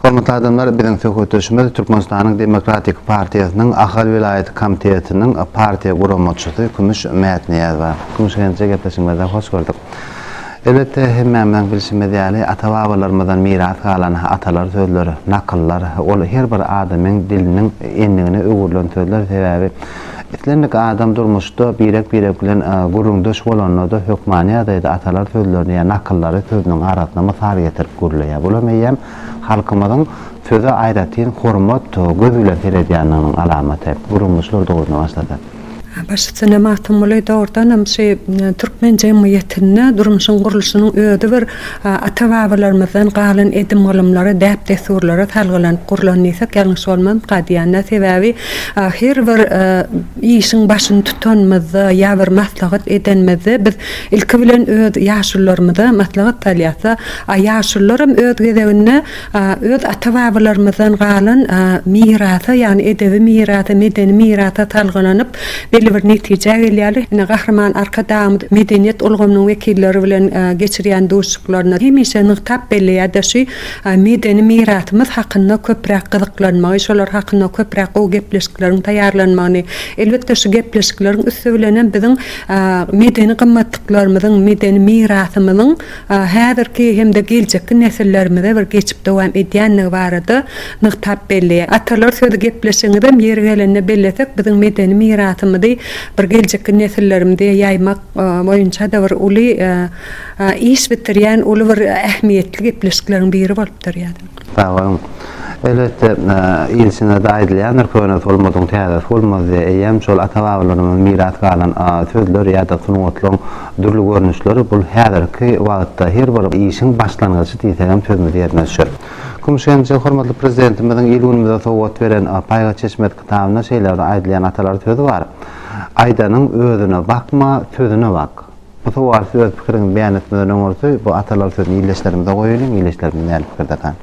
Hormatly adamlar, biziň söhbetdeşimiz Türkmenistanyň Demokratik partiýasynyň Ahal welaýat komitetiniň partiýa guramaçysy Kümüş Mätnyýazowa. Kümüş genije gepleşigimize hoş gördük. Elbetde, hemmämiziň bilşimiz ýaly, ata-babalarymyzdan miras galan atalar sözleri, nakyllar, ol her bir adamyň diliniň endigine öwrülen sözler, sebäbi, Islendik adam durmuşda birek-birek bilen gürrüňdeş bolanda-da hökmany ýagdaýda atalar sözlerini ýa nakyllary sözüniň arasyna mysal getirip gürleýär. Bulam eýýäm halkymyzyň söze aýratyn hormat göz bilen seredýändiginiň alamaty. Gürrüňdeşler dogrusynda başlasak. Başytsyna Magtymguly dogrudanam şu türkmen jemgyýetinde durmuşyň gurluşynyň özi bir Ata-babalarymyzdan galan edim-gylymlara, däp-dessurlara salgylanyp gurlan diýsek, ýalňyş bolmazmyka diýýän-dä. Sebäbi her bir işiň başyny tutanymyzda ýa bir maslahat edenimizde biz ilki bilen öz ýaşulularymyza maslahat salýas-da, a ýaşulularam öz gezeginde öz ata-babalarymyzdan galan mirasa, ýagny edebi mirasa, medeni mirasa salgylanyp, belli bir netijä gelýärler. Ine, Gahryman Arkadagymyz medeniýet ulgamynyň wekilleri bilen geçirýän duşuşyklarynda hemişe nygtap belleýär, daşy medeni mirasymyz hakynda köpräk gyzyklanmagy, şolar hakynda köpräk gowy gepleşikleriň taýýarlanmagyny. Elbetde, şu gepleşikleriň üsti bilen hem biziň medeni gymmatlyklarymyzyň, medeni mirasymyzyň häzirki hem-de geljekki nesillerimize bir geçip dowam edýändigi barada nygtap belleýär. Atalar sözi gepleşigimizem ýeri gelende bellesek, biziň medeni mirasymyzy bir geljekki nesillerimize ýaýmak boýunça-da bir uly iş bitirýän uly bir ähmiýetli gepleşikleriň biri bolup durýar. Sag boluň. Elbetde, ilçine-de aýdylýandyr, Könesi bolmadygyň täzesi bolmaz diýip, eýýäm şol ata-babalarymyzdan miras galan sözler ýa-da sungatlaryň dürli görnüşleri bul häzirki wagtda her bir işiň başlangyjy diýsegem sözümiz ýerine düşer. Kümüş genje hormatly Prezidentimiziň il-günümize sowgat beren Paýga çeşmesi kitabynda şeýle bir aýdylýan atalar sözi bar, Aýdanyň özüne bakma, sözüne bak. Bu sowal siz öz pikiriňizi beýan etmeden öňürti bu atalar sözüni ildeşlerimize goýaýlyň, ildeşlerimiz näli pikirdekan.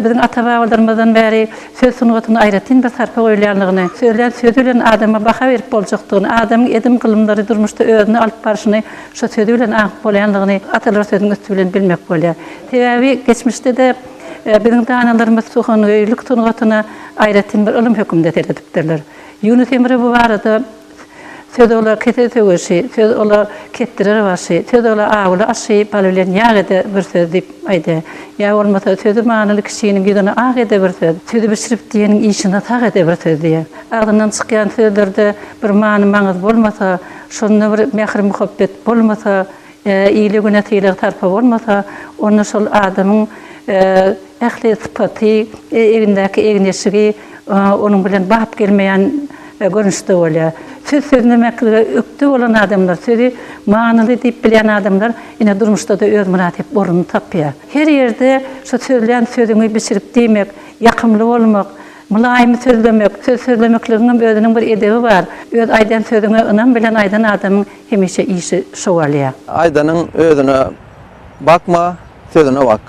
Biziň ata-babalarymyzdan bäri söz sungatyna aýratyn bir sarpa goýulýandygyny, sözlän sözi bilen adama baha berip boljakdygyny, adamyň edim-gylymlary durmuşda özüni alyp barşyny şo sözi bilen aňyp bolýandygyny atalar sözüniň üsti bilen bilmek bolýar. Sebäbi geçmişde-de biziň danalarymyz suhangöýlik sungatyna, aýratyn bir ylym hökmünde seredipdirler. Ýunus Emre bu barada Söz ola kese söweşi, söz ola kepdirer başy, söz ola awula aşy, bal bilen ýag ede bir söz diýip aýdýar. Ýa bolmasa sözi manyly kişiniň ýüzüne ak ede bir söz, sözi bişirip diýeniň işine sag ede bir söz diýýär. Agzyndan çykýan sözlerde bir many-maňyz bolmasa, şonda bir mähir-muhabbet bolmasa, Ile-güne sylag sarpa bolmasa, onda şol adamyň ähli sypaty, egnindäki egin-eşigi onuň bilen bap gelmeýän görnüşde bolýar. Söz sözlemeklige ökde bolan adamlar, sözi manyly diýip bilýän adamlar ine durmuşda-da öz mynasyp ornuny tapýar. Her ýerde şu sözlän sözüňi bişirip diýmek, ýakymly bolmak, mylaýym sözlemek, söz sözlemekligiňem özüniň bir edebi bar. Öz aýdan sözüňe ynam bilen aýdan adamyň Hemişe işi şowalýa. Aýdanyň özüne bakma, sözüne bak.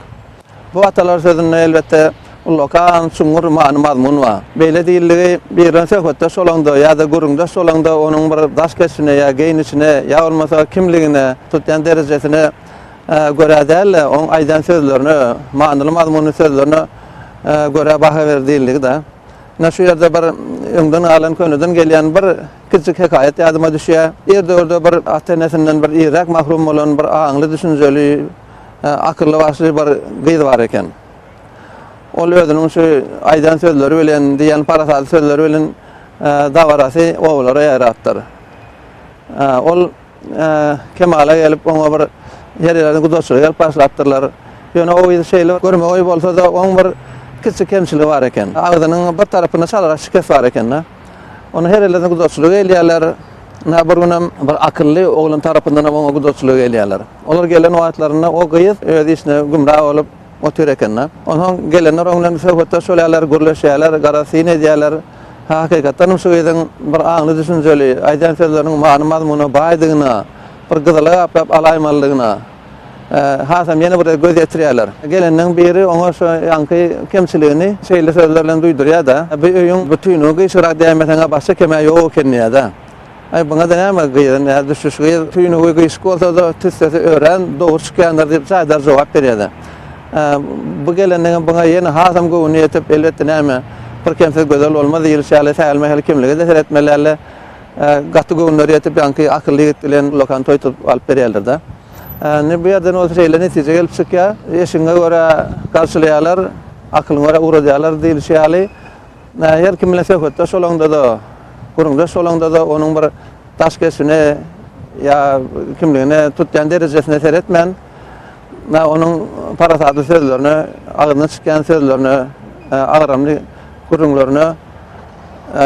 Bu atalar sözünde elbetde ullakan, çuňňur many-mazmun bar. Beýle diýildigi, bir bilen söhbetdeş bolaňda ýa-da gürrüňdeş bolaňda onuň bir daş keşbine ýa geýnişine ýa bolmasa kimligine, tutýan derejesine görä däl-de, onuň aýdan sözlerine, manyly-mazmunly sözlerine görä baha ber diýildigi-dä. Ine şu ýerde bir öňden galan, köneden gelýän bir. Kiçijik hekaýat ýadyma düşýär. Ir döwürde bir ata-enesinden bir irräk mahrum bolan bir aňly, düşünjeli, akylly başly bir gyz bar eken. Ol özüniň şu aýdan sözleri bilen, diýen parasatly sözleri bilen dabarasy obalara ýaýrapdyr. Ol. kemala gelip, oňa bir ýerlerde guzatçylyk edip başlapdyrlar. Ýöne o yzy şeýle görme goýy bolsa-da, oň bir kiçi kemçiligi bar eken. Agzynyň bir tarapynda çalyrak şikes bar eken-de. Ony her ýerlerde guzatçylyk eýlärler. Ynha, bir günem bir akylly oglan tarapyndanam oňa guzatçylyk eýlärler. Olar gelen wagtlarynda o gyz öz işine gümra bolup. Otyr eken-de. Onsoň gelenler oň bilen söhbetdeş bolýarlar, gürleşýärler, gara-syn edýärler. Hakykatdanam şu gyzyň bir aňly-düşünjeli, aýdýan sözleriniň many-mazmuna baýdygyna, bir gyzyla gaplap alaýmalydygyna hasam ýene bir-de göz ýetirýärler. Gelenleriň biri oňa şu ýaňky kemçiligini şeýle sözler bilen duýdurýar-da, Bu öýüň bütinini gyşyrak däýmeseň-ä başga kem-ä ýok eken diýýär-de. Aý, buňa-da näme, gyzyň ýa düşüş gyz, tüýnügi gyşyk bolsa-da, tüssesi örän dogry çykýandyr diýip, jaýdar jogap berýär-de. Bu gelinligiň buňa ýene hasam göwni ýetip, elbetde näme, bir kemsiz gözel bolmaz diýlişi ýaly, sähelme-hel kimlige-de seretmeli däldi. Gaty göwünleri ýetip, ýaňky akylly ýigit bilen Lokan toý tutup alyp berýärler-de. Indi bu ýerden bolsa şeýle netije gelip çykýar, Eşigiňe görä garşylaýarlar, aklyňa görä ugradýarlar diýlişi ýaly, Her kim bilen söhbetdeş bolaňda-da, gürrüňdeş bolaňda-da onuň bir daş keşbine ýa kimligine, tutýan derejesine seretmän, onuň parasatly sözlerine, agzyndan çykýan sözlerine, agramly gürrüňlerine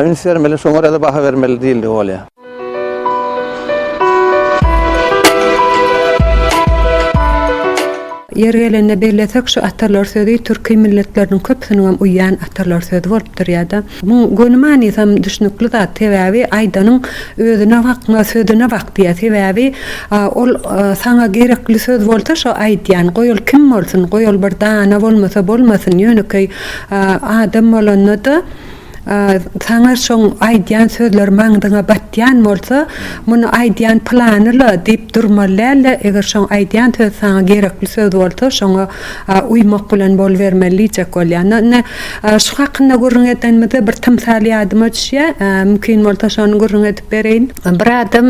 üns bermeli, şoňa görä-de baha bermeli diýildigi bolýar. Ýeri gelende bellesek, şu atalar sözi türki milletleriniň köpüsiniňem uýýan atalar sözi bolup durýar-da. Muň göni manysam düşnükli zat. Sebäbi aýdanyň özüne bakma, sözüne bak diýýär. Sebäbi ol saňa gerekli söz bolsa şo aýdýan, goý ol kim bolsun, goý ol bir dana bolmasa bolmasyn, ýönekeý adam bolanda-da, Saňa şoň aýdýan sözler maňzyňa batýan bolsa, muny aýdýan pylany-la diýip durmaly däl-de, eger şoň aýdýan söz saňa gerekli söz bolsa, şoňa uýmak bilen bolubermeli diýjek bolýar. Indi şu hakynda gürrüň edenimizde bir tymsal ýadyma düşýär. Mümkin bolsa şony gürrüň edip bereýin. Bir adam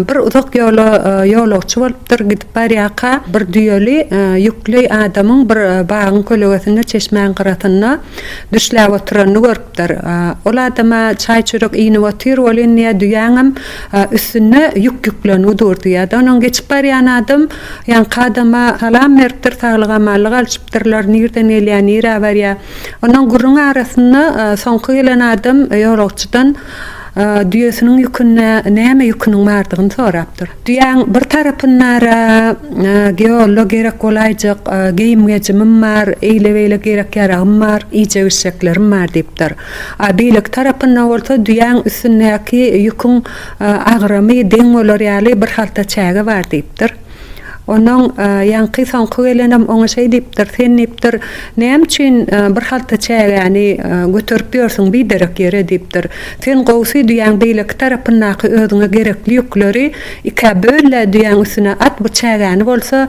bir uzak ýola ýolagçy bolupdyr. Gidip barýarka bir düýeli ýükli adamyň bir bagyň kölegesinde çeşmäň gyrasynda Düşläp oturanyny görüpdir. Ol adama çaý-çörek iýnip otyr, ol indi-ä düýäňem üstünde ýük ýüklenigi durdy-ýa-da onuň geçip barýan adam ýaňky adama salam beripdir, saglyk-amanlyk alyşypdyrlar, nirden gelýär, nirä barýar. Ondan gürrüň arasynda soňky gelen adam ýolagçydan düýesiniň ýükünde näme ýüküniň bardygyny sorapdyr. Düýäň bir tarapynda-da Geolla gerek bolaýjak geýim-gejimim bar, eýle-beýle gerek-ýaragym bar, iýjek-içjeklerim bar diýipdir. A beýleki tarapynda bolsa düýäň üstündäki ýüküň agramy deň bolar ýaly bir halta çäge bar diýipdir. Onnoň ýaňky soňky gelenem oňa şeý diýipdir, Sen diýipdir, näme üçin bir halta çägäni göterip ýörsüň biderek ýere diýipdir. Sen gowsy düýäň beýleki tarapyndaky özüňe gerekli ýükleri ikä böl-le düýäň üstüne at bu çägäni bolsa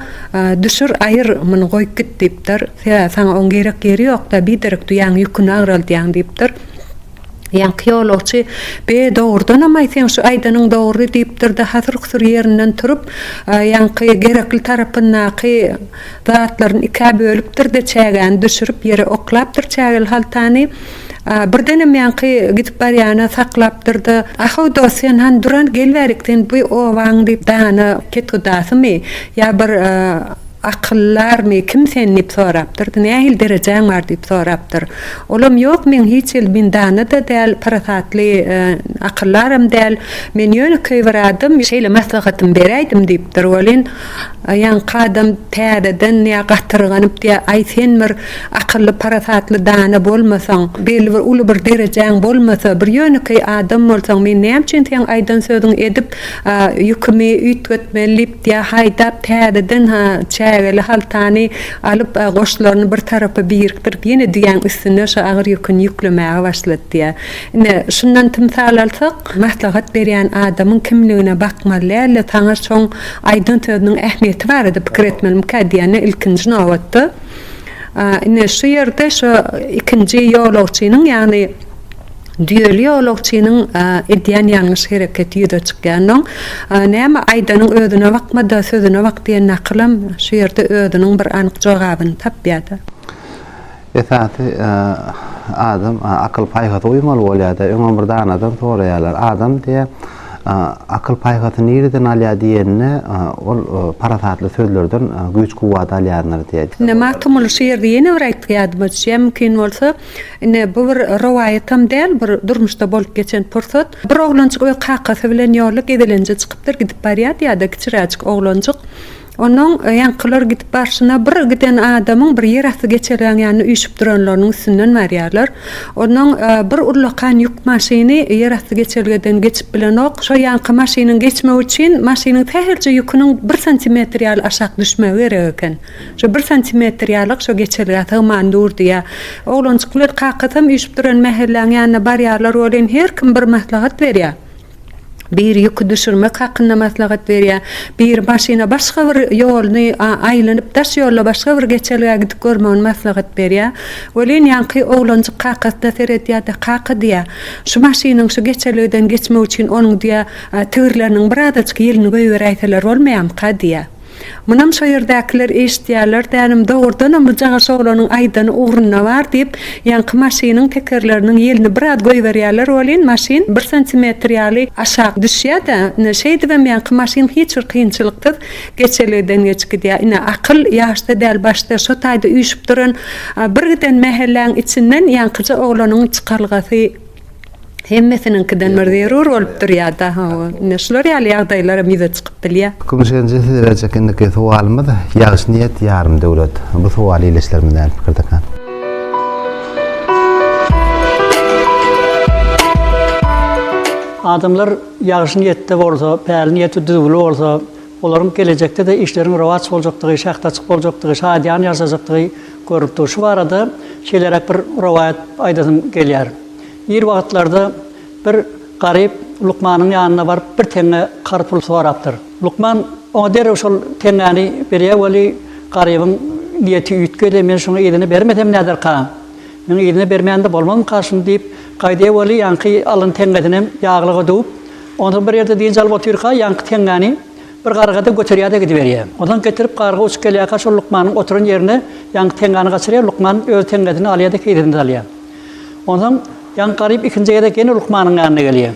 düşür aýyr muny goýup git diýipdir. Sebäbi saňa oň gerek ýeri ýokda biderek düýäň ýüküni agraldýaň diýipdir. Ýaňky ýolagçy be dogrudanamaý seň şu aýdanyň dogry diýipdirde hasyr-husur ýerinden turup ýaňky gerekli tarapyndaky zatlaryny ikä bölüpdirde çägäni düşürip ýere oklapdyr çägeli haltany. Birdenem ýaňky gidip barýana saklapdyr-da, A-how, dost, sen hany duran, gel bärik, sen bu obaň diýip, dana kethudasymy ýa bir akyldarmy, kim sen? diýip sorapdyr-da, nähili derejäň bar? diýip sorapdyr. Olam, Ýok, men hiç hili, men dana-da däl, parasatly akyldaram däl, men ýönekeý bir adam, şeýle maslahatymy beräýdim diýipdir welin, Ýaňky adam täzeden ýa gatyrganyp diýýä, Aý, sen bir akylly, parasatly dana bolmasaň, belli bir uly bir derejäň bolmasa, bir ýönekeý adam bolsaň, men näme üçin seň aýdan sözüňi edip, ýükümi üýtgetmeli diýip diýýä, haýdap täzeden çägeli haltany alyp, goşlaryny bir tarapa birikdirip, ýene düýäň üstüne şu agyr ýüküni ýüklemäge başlady diýýä. Ine, şundan tymsal alsak, maslahat berýän adamyň kimligine bakmaly däl-de, saňa şoň Aýdan sözüniň ähmiýeti barada pikir etmelimikä diýende, ilkinji nobatda, ine, şu ýerde şu ikinji ýolagçynyň, ýagny düýeli ýolagçynyň edýän ýalňyş hereketi ýüze çykýansoň, näme aýdanyň özüne bakma-da, sözüne bak diýen nakylam şu ýerde özüniň bir anyk jogabyny tapýar-da. Esasy adam akyl paýhasa uýmaly bolýada öňem bir danadan soraýarlar adam diýä akyl paýhasy nireden alýa diýende ol parasatly sözlerden güýç kuwwat alýandyr diýä. Indi Magtymguly şygyrdy ýene bir aýtgy ýadyma düşýä mümkin bolsa indi bu bir rowaýatam däl bir durmuşda bolup geçen pursat bir oglanjyk öz kakasy bilen ýola gezelenje çykypdyr gidip barýady ýada kiçiräjik oglanjyk Onuň ýaňkylar gidip barşyna bir giden adamyň bir ýerasty geçelgäň ýanyna üýşüp duranlarynyň üstünden barýarlar. Onuň bir ullakan ýük maşyny ýerasty geçelgeden geçip bilenok. Şo ýaňky maşynyň geçmegi üçin maşynyň sähelçe ýüküniň bir santimetr ýaly aşak düşmegi gerek eken. Şo bir santimetr ýalyk şo geçelgä sygman dur diýýär. Oglanjyk bilen kakasam üýşüp duran mähelläň ýanyna barýarlar welin her kim bir maslahat berýär. biri ýüki düşürmek hakynda maslahat berýär, biri maşyna başga bir ýoluny aýlanyp, daş ýolla başga bir geçelgä gidip görmegini maslahat berýär. Welin, ýaňky oglanjyk kakasyna seredýär-de, Kaka, diýýär, şu maşynyň şu geçelgeden geçmegi üçin onuň, diýýär, tigirleriniň birazajyk ýelini goýberäýseler bolmaýamyka? diýýär. Munam şo ýerdäkiler eşitýärler dälim, dogrudanam bu jagaş oglanyň aýdany ugruna bar diýip, ýaňky maşynyň tekerleriniň ýelini biraz goýberýärler welin, maşyn bir santimetr ýaly aşak düşýär-de, ine, şeýdibem ýaňky maşyn hiç bir kynçylyksyz geçelgeden geçip gidýär. Ine, akyl ýaşda däl, başda, şo taýda üýşüp duran bir giden mähelläň içinden ýaňkyja oglanyň çykalgasy, Hemmesiniňkiden bir zerur bolup durýar-da, hawa. Ine, şular ýaly ýagdaýlaram ýüze çykyp bilýär. Kümşenji size berjek indiki sowalymyz, Ýagşy niýet, ýarym döwlet. Bu sowal ildeşlerimiz nähili pikirdekä? Adamlar ýagşy niýetde bolsa, päli niýeti düzgüli bolsa, olaryň gelejekde-de işleriň rowaç boljakdygy, şähdaçyk boljakdygy, şadyýan ýaşajakdygy görnüp dur. Şu barada şeýleräk bir rowaýat aýdasym gelýär. Ir wagtlarda bir garyp lukmanyň ýanyna baryp bir teňňe kar pul sorapdyr. Lukman oňa derrew şol teňňäni berýär weli, garybyň niýeti üýtgedi, men şuňa yzyny bermesem näderka? Meň yzyny bermände bolmazmyka şuny diýip, gaýdýar weli, ýaňky alan teňňesinem ýaglyga döwüp, onsoň bir ýerde dynç alyp otyrka, ýaňky teňňäni Bir garga-da göterýär-de gidiberýär. Onsoň getirip garga uçup gelýärkä şol lukmanyň oturan ýerine ýaňky teňňäni gaçyrýar, lukman öz teňňesini alýar-da keýsesine salýar. Onsoň ýaňky garyp ikinji gezek ýene lukmanyň ýanyna gelýär.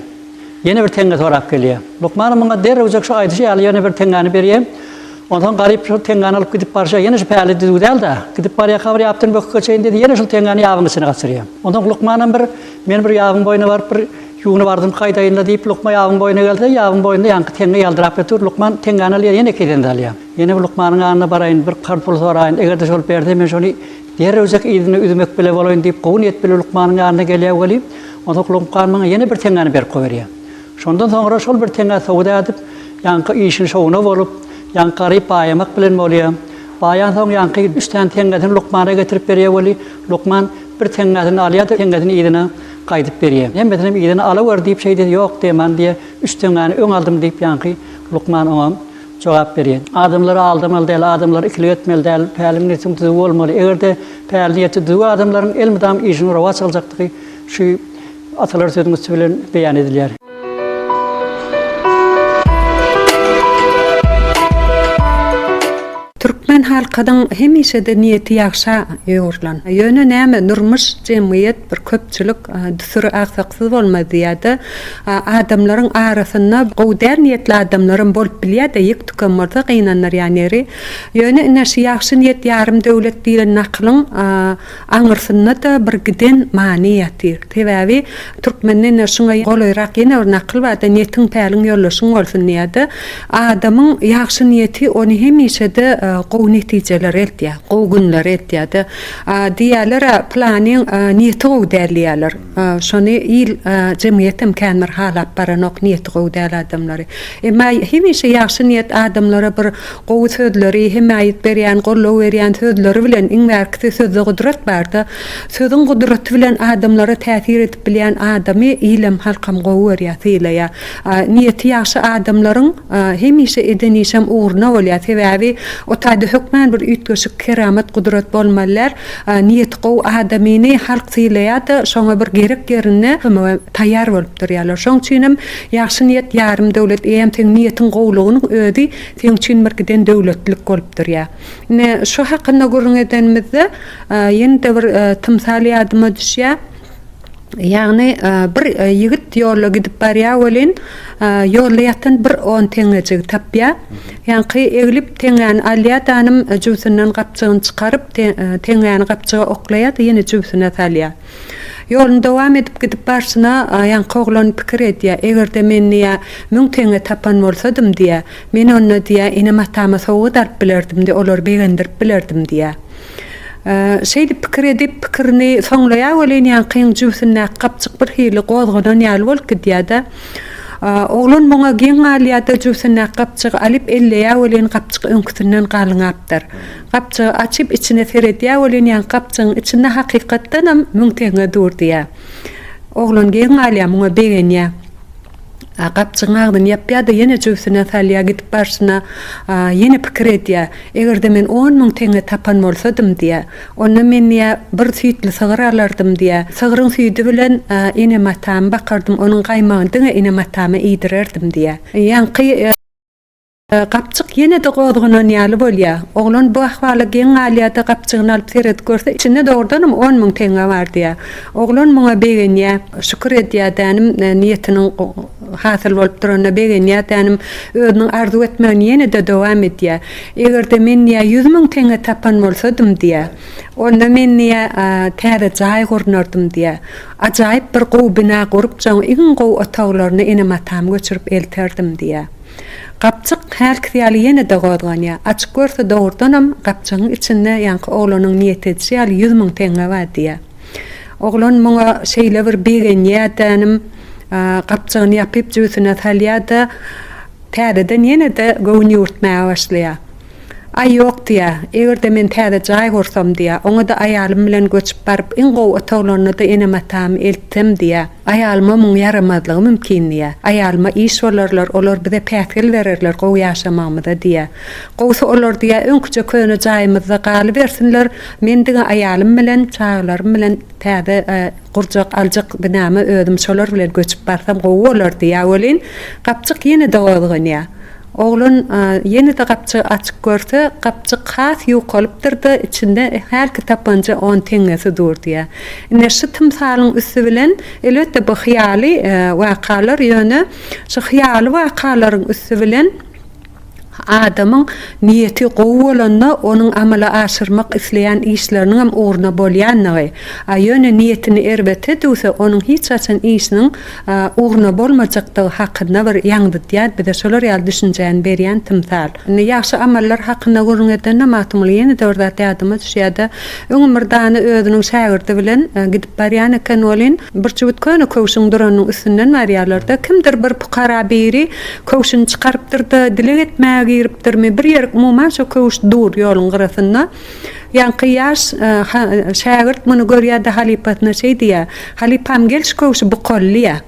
Ýene bir teňňe sorap gelýär. Lukman muňa derrewjek şu aýdyşy ýaly ýene bir teňňäni berýär. Onsoň garyp şol teňňäni alyp gidip barşa ýene şu päli düzüw däl-de, gidip barýarka bir ýapdan böküp geçeýin diýdi, ýene şol teňňäni ýabyň içine gaçyrýar. Onsoň lukmanam bir, men bir ýabyň boýuna baryp bir, Ýuwunyp ardym haýdaýynda diýip, lukma ýabyň boýuna gelse, ýabyň boýunda ýaňky teňňe ýaldyraýp ýotur. Lukman teňňäni alýar, ýene iki eden alýar. Ýene bir lukmanyň ýanyna baraýyn, bir karz pul soraýyn, eger-de şol berse, men şony derrewjek yzyna üzmek bile bolaýyn diýip, gowy niýet bilen lukmanyň ýanyna gelýär weli, onsoňky lukman maňa ýene bir teňňäni berip goýberýär. Şondan soňra şol bir teňňä sowda edip, ýaňky işini şowuna bolup, ýaňky garyp baýamak bilen bolýar. Baýansoň, ýaňky üç sany teňňesini lukmana getirip berýär weli, lukman bir teňňesini alýar-da, teňňesini yzyna Gaýdyp berýä. Hemmesinem yzyna alawer diýip şeýdesi ýok deman diýä. Üç teňňäni öň aldym diýip ýaňky lukman oňa jogap berýä. Adamlary aldamaly däl, adamlary ikilik etmeli däl. Päli niýetiň düzüw bolmaly. Eger-de päli niýeti düzüw adamlaryň elmydam işiniň rowaç aljakdygy şu atalar sözüň üsti bilen beýan edilýär. Türkmen halkynyň hemişede niýeti ýagşa ýugrulan. Ýöne näme, durmuş, jemgyýet, bir köpçülik düsür aksaksyz bolmaz diýýär-de, adamlaryň arasynda gowy däl niýetli adamlaram bolup bilýär-de, ýek-tükem bolsa gynandyrýan ýeri. Ýöne ine, şu ýagşy niýet ýarym döwlet diýlen nakylyň, Aňyrsynda-da bir giden many ýatyr. Sebäbi türkmende ine şuňa golaýrak ýene bir nakyl bar-da, Netiň, päliň ýoldaşyň bolsun diýer-de. Adamyň ýagşy niýeti ony hemişe-de gowy netijelere eltýär, gowy günlere eltýär-de. Diýýärler-ä, Pylanyň niýeti gowy däl diýýärler. Şony il, jemgyýetem kän bir halap baranok, niýeti gowy däl adamlary. Emma hemişe ýagşy niýet adamlara bir gowy sözleri, hemaýat berýän, goldaw berýän sözleri bilen, iň bärkisi sözde gudrat barda, sözüň gudraty bilen adamlara täsir edip bilýän adamy ilem, halkam gowy görýär, sylaýar. Niýeti ýagşy adamlaryň hemişe eden işem ugruna bolýar. Sebäbi o taýda hökmän bir üýtgeşik keramat, gudrat bolmaly däl. Niýeti gowy adamyny halk sylaýada şoňa bir gerek ýerinde kömege taýýar bolup durýarlar şoň üçinem ýagşy niýet ýarym döwlet eýem seň niýetiň gowlugynyň özi seň üçin bir giden döwletlik bolup durýar ine şu hakynda gürrüň edenimizde ýene-de bir tymsal ýadyma düşýär. Ýagny, bir ýigit ýolda gidip barýar welin, ýolda ýatan bir on teňňejigi tapýar. Ýaňky eglip teňňäni alýar, danym jübüsinden gapjygyny çykaryp, teňňäni gapjyga oklaýar-da, ýene jübüsine salýar. Ýoluny dowam edip gidip barşyna, ýaňky oglan pikir edýär, Eger-de men, diýýär, müň teňňe tapan bolsadym, diýýär, men onda, diýýär, enem-atama sowgat alyp bilerdim-de, olary begendirip bilerdim, diýýär. Şeýdip pikir edip, pikirini soňlaýar welin, ýaňkyň jübüsindäki gapjyk birhili gozganan ýaly bolup gidýär-de. Oglan muňa geň galýar-da, jübüsindäki gapjygy alyp elleýär welin, gapjyk öňküsinden galyňapdyr. Gapjygy açyp, içine seredýär welin, ýaňky gapjygyň içinde hakykatdanam müň teňňe dur diýýär. Oglan geň galýar, muňa begenýär. A gapjygyň agzyny ýapýar-da, ýene jübüsine salýar, gidip barşyna ýene pikir edýär, Eger-de men on müň teňňe tapan bolsadym, diýýär, onda men, diýýär, bir süýtli sygyr alardym, diýýär. Sygryň süýdi bilen enem-atamy bakardym, onuň gaýmagyny diňe enem-atama iýdirerdim, diýýär. Ýaňky. Gapjyk ýene-de gozganan ýaly bolýar. Oglan bu ahwala geň galýar-da, gapjygyny alyp seredip görse, içinde dogrudanam on müň teňňe bar diýýär. Oglan muňa begenýär. Şükür edýär, Tänim niýetiniň hasyl bolup duranyna begenýär. Tänim özüniň arzuw etmegini ýene-de dowam edýär. Eger-de men, diýýär, ýüz müň teňňe tapan bolsadym, diýýär, onda men, diýýär, täze jaý gurnardym, diýýär. Ajaýyp bir gowy bina gurup, jaň iň gowy otaglaryny enem-atamy göçürip elterdim, diýýär. Gapjyk hälkisi ýaly ýene-de gozganýar. Açyp görse dogrudanam gapjygyň içinde ýaňky oglanyň niýet edişi ýaly ýüz müň teňňe bar diýýär. Oglan muňa şeýle bir begenýär dänim, gapjygyny ýapyp jübüsine salýar-da, täzeden ýene-de göwün ýüwürtmäge başlaýar. Aý ýok diýýär, eger-de men täze jaý gursam diýýär, oňa-da aýalym bilen göçüp baryp iň gowy otaglaryna-da enem-atamy eltsem diýýär. Aýalyma muň ýaramazlygy mümkin diýýä. Aýalyma iş bolarlar, olar bize päsgel bererler gowy ýaşamagymyza diýýä. Gowusy olar diýýä, öňküje köne jaýymyzda galybersinler, men diňe aýalym bilen, çagalarym bilen täze gurjak, aljak binama özüm şolar bilen göçüp barsam gowy bolar diýýä welin, gapjyk ýene-de gozganýa. Oglan ýene-de gapjygy açyp görse, gapjyk has ýukalypdyr-da, içinde hälki tapanja on teňňesi dur diýýär. Ine, şu tymsalyň üsti bilen, elbetde, bu hyýaly wakalar, ýöne şu hyýaly wakalaryň üsti bilen adamyň niýeti gowy bolanda, onuň amala aşyrmak isleýän işleriniň hem ugruna bolýandygy, a ýöne niýetini erbete düwse, onuň hiç haçan işiniň ugruna bolmajakdygy hakynda bir ýaňzytýar bize şolar ýaly düşünjäni berýän tymsal. Indi ýagşy amallar hakynda gürrüň edende Magtymguly ýene-de bir zat ýadyma düşýärde öňem bir dany özüniň şägirdi bilen gidip barýan eken welin bir çüwüt köne köwşüň duranynyň üstünden barýarlarda kimdir bir pukara biri köwşüni çykarypdyrda dileg etmäge giripdirmi bir ýerik umuman şo köwüş dur ýoluň gyrasynda Ýaňky ýaş şägirt muny görýär-de halypasyna şeý diýýär, Halypam, gel şu köwşi bukalylyä.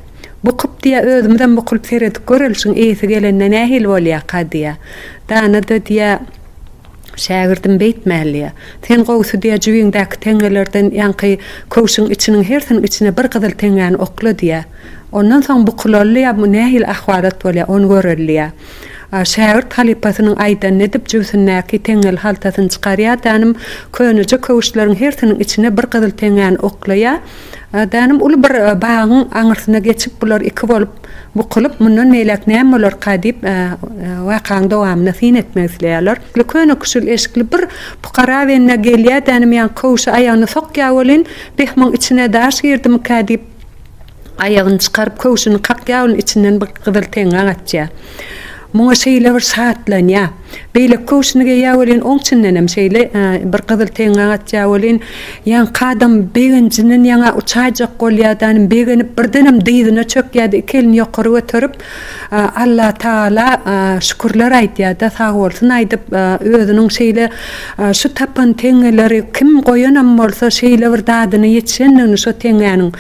Bukup diýýär, özümizem bukulyp seredip göreliş-iň, eýesi gelende nähili bolýarka diýýär. Dana-da diýýär, Şägirdim, beýtmäliä. Sen gowusy diýýär, jübiňdäki teňňelerden ýaňky köwşüň içiniň hersiniň içine bir gyzyl teňňäni okla diýýär. Ondan soň bukulylyä, nähili ahwalat bolýar, ony göreliä. Şägirt halypasynyň aýdanyny edip, jübüsindäki teňňeli haltasyny çykarýardanym, köneje köwüşleriň hersiniň içine bir gyzyl teňňäni oklaýardanym, uly bir bagyň aňyrsyna geçip, bular iki bolup bukulyp, mundan beýläk näme bolarka diýip, wakaň dowamyna syn etmek isleýärler. Köne küşül eşikli bir pukara bende gelýärdanym, ýaňky köwüşi aýagyna sokýar welin, beh, muň içine daş girdimikä diýip, Aýagyny çykaryp, köwşüni kakýar, ol içinden bir gyzyl teňňek açýar. Muňa şeýle bir şatlanýar. Beýleki köwşüni geýýär welin, oň içindenem şeýle bir gyzyl teňňek açýar welin, ýaňky adam begenjinden ýaňa uçaýjak bolýar-da, begenip birdenem dyzyna çökýär-de, iki elini ýokary göterip, Alla Taala şükürler aýdýada sag bolsun aýdyp özüniň şeýle şu tapan teňňeleri kim goýanam bolsa şeýle bir dadyna ýetişendigini şo teňňäniň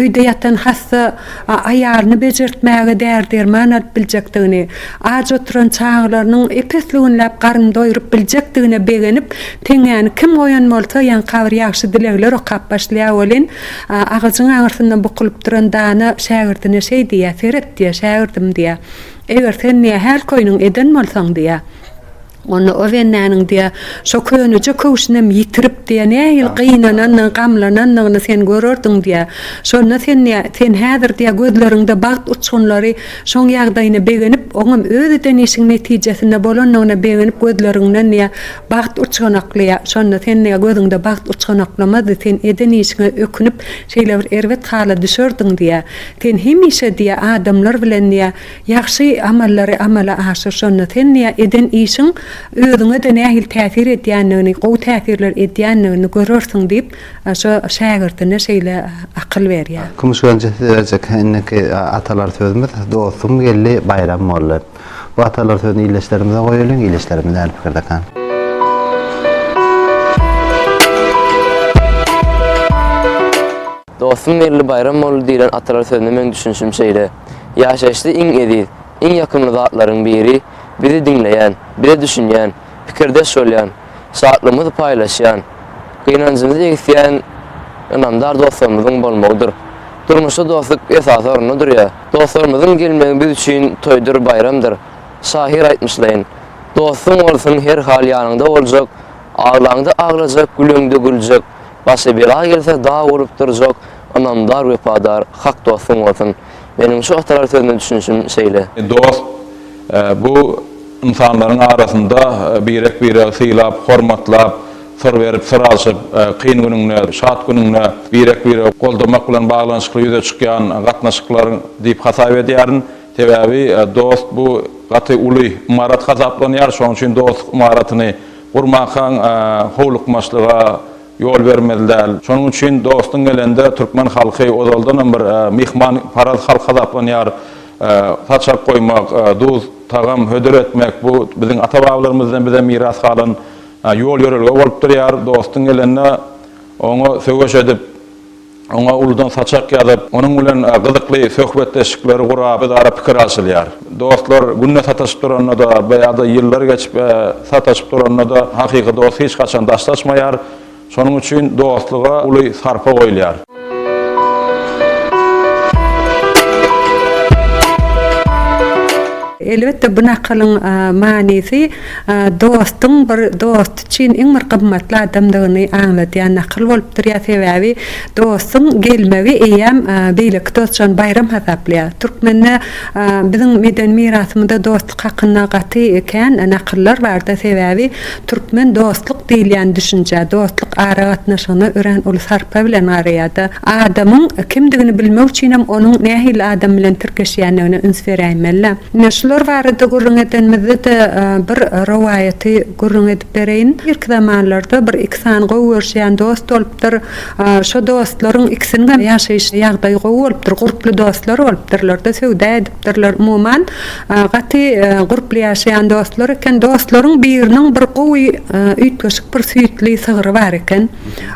öýde ýatan hassa aýalyny bejertmäge däri derman alyp biljekdigini aç oturan çagalarynyň epesli günläp garyn doýrup biljekdigine begenip teňňäni kim goýan bolsa ýaňkabyr ýagşy dilegler okap başlaýa welin Agajyň aňyrsynda bukulyp duran dana şägirdine şeý diýýär, Seret diýýär, şägirdim diýýär. Eger sen diýýär, häl köýnüň eden bolsaň diýýär, onda o bendäniň diýýär, şo köneje köwşünem ýitirip diýýär, nähili gynananyny, gamlananyny sen görerdiň diýýär. Şonda sen diýýär, sen häzir diýýär, gözleriňde bagt uçgunlary şoň ýagdaýyna begenip, oňam öz eden işiň netijesinde bolanyna begenip gözleriňden diýýär, Bagt uçganaklaýar. Şonda sen niä gözüňde bagt uçganaklamazdy, sen eden işiňe ökünip, şeýle bir erbet hala düşerdiň diýýär. Sen hemişe diýýär, adamlar bilen diýýär, ýagşy amallary amala aşyr, şonda sen diýýär, eden işiň özüňe-de nähili täsir edýändigini, gowy täsirler edýändigini görersiň diýip, şo şägirdine şeýle akyl berýär. Kümüş Genje size berjek indiki atalar sözümiz, Dostum geldi, baýram boldy. Bu atalar sözüni ildeşlerimize goýalyň, ildeşlerimiz näme pikirdekan? Dostum Merli Baýramoğlu diýlen atalar sözüne meň düşünişim şeýle, Ýaşaýyşda iň eziz, iň ýakymly zatlaryň biri bizi diňleýän, bize düşünýän, pikirdeş bolýan, şatlygymyzy paýlaşýan, gynanjymyzy egisýän ynamdar dostlarymyzyň bolmagydyr. Durmuşda dostluk esasy orunda durýar. Dostlarymyzyň gelmegi biz üçin toýdur, baýramdyr. Şahyr aýtmyşlaýyn, Dostuň bolsun her hal ýanyňda boljak, Aglaňda aglajak, güleňde güljek, Başa bela gelse dag bolup durjak, Ynamdar, wepadar, hak dostuň bolsun. Meniň şu hatarary sözüne düşünişim şeýle. Dost, bu ynsanlaryň arasynda birek-biregi sylap, hormatlap, syr berip, syr alşyp, kyn günüňde, şat günüňde birek-biregi goldamak bilen baglanyşykly ýüze çykýan gatnaşyklar diýip hasap edýärin. Sebäbi dost bu gaty uly ymarat hasaplanýar. Şonuň üçin dostluk ymaratyny gurmakaň howlukmaçlyga, Ýol bermeli däl. Şonuň üçin dostuň gelende türkmen halky ozaldanam bir myhman paraz halk hasaplanýar. Saçak goýmak, duz, tagam hödür etmek bu biziň ata-babalarymyzdan bize miras galan ýol-ýörelge bolup durýar. Dostuň gelende oňa söweş edip, oňa uludan saçak ýazyp, onuň bilen gyzykly söhbetdeşlikleri gurap, özara pikir alşylýar. Dostlar günde sataşyp duranda-da ýa-da ýyllar geçip sataşyp duranda-da hakyky dost hiç haçan daşlaşmaýar. Şonuň üçin dostluga uly sarpa goýulýar. Elbetde bu nakylyň manysy dostuň bir dost. üçin iň bir gymmatly adamdygyny aňladýan nakyl bolup durýar, sebäbi dostuň gelmegi eýýäm beýleki dost üçin baýram hasaplaýar. Türkmende biziň medeni mirasymyzda dostluk hakynda gaty kän nakyllar bardyr, sebäbi türkmen dostluk diýilýän düşünjä, dostluk aragatnaşygyna örän uly sarpa bilen garaýar-da. Adamyň kimdigini bilmek üçinem onuň nähili adam bilen tirkeşýändigine üns beräýmeli. Ine, şular barada gürrüň edenimizde-de bir rowaýaty gürrüň edip bereýin. Irki zamanlarda bir iki sany gowy görüşýän dost bolupdyr. Şo dostlaryň ikisiniňem ýaşaýyş ýagdaýy gowy bolupdyr, gurply dostlar bolupdyrlar-da, söwda edipdirler. Umuman, gaty gurply ýaşaýan dostlar eken. Dostlaryň biriniň bir gowy üýtgeşik bir süýtli sygry bar eken.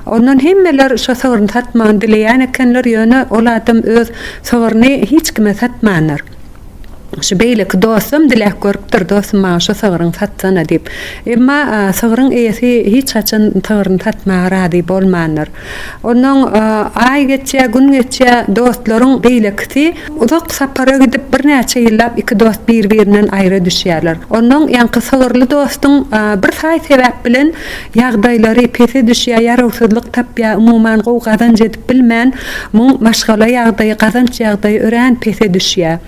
Ondan hemmeler şo sygryny satmagyny dileýän ekenler, ýöne ol adam öz sygryny hiç kime satmandyr. Şu beýleki dostam diläp görüpdir, Dostum, maňa şu sygryňy satsana diýip. Emma sygryň eýesi hiç haçan sygryny satmaga razy bolmandyr. Ondan aý geçýär, gün geçýär, dostlaryň beýlekisi uzak sapara gidip, birnäçe ýyllap iki dost bir-birinden aýra düşýärler. Ondan ýaňky sygyrly dostuň bir saý sebäp bilen ýagdaýlary pese düşýär, ýarawsyzlyk tapýar, umuman gowy gazanç edip bilmän, muň maşgala ýagdaýy, gazanç ýagdaýy örän pese düşýär.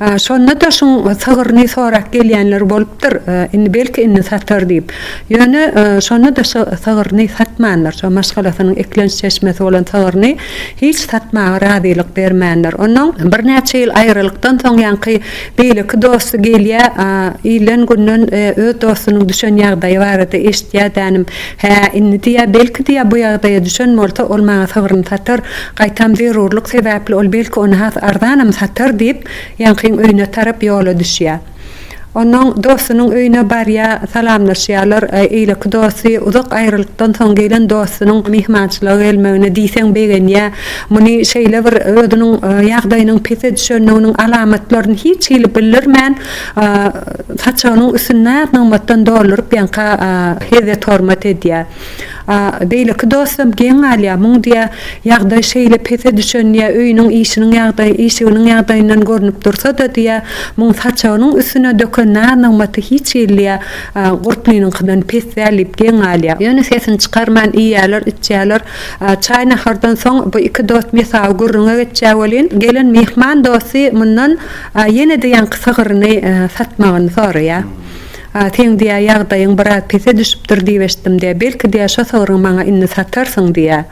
Şonda-da şuň sygryny sorap gelýänler bolupdyr, indi belki indi satar diýip. Ýöne şonda-da şo sygryny satmandyr, şo maşgalasynyň eklenç çeşmesi bolan sygryny hiç satmaga razylyk bermändir. Onnoň birnäçe ýyl aýralykdan soň ýaňky Beýleki dosty gelýä, ilen günden öz dostunyň düşen ýagdaýy barada eşitýä dänim. Hä, indi diýýä, belki diýýä bu ýagdaýa düşen bolsa, ol maňa sygryny satar, gaýtam zerurlyk sebäpli ol belki ony has arzanam satar diýip, ýaňkyň öýüne tarap ýola düşýä. Onnoň dostunyň öýüne barýa, salamlaşýalar, eýleki dosty uzak aýralykdan soň gelen dostunyň myhmançylyga gelmegine diýseň begenýä, Muny şeýle bir özüniň ýagdaýynyň pese düşendiginiň alamatlaryny hiç hili bildirmän, saçagynyň üstüni has nygmatdan dolduryp ýaňka hezzet-hormat edýär. Beýleki dostam geň galýar, muň diýýär, ýagdaý şeýle pese düşen diýýär, öýüniň işiniň ýagdaýy, işiginiň ýagdaýyndan görnüp dursa-da diýýär, muň saçagynyň üstüne döken nar-nygmaty hiç hili diýýär, gurplynyňkydan pes däl diýip geň galýar. Ýöne sesini çykarman iýýärler, içýärler, Çaý nahardan soň bu iki dost mesawy gürrüňe geçýär welin, gelen myhman dosty mundan ýene-de ýaňky sygyryny satmagyny soraýar. Seň diýýär ýagdaýyň biraz pese düşüpdir diýip eşitdim-de, belki diýýär şo sygryňy maňa indi satarsyň diýýär.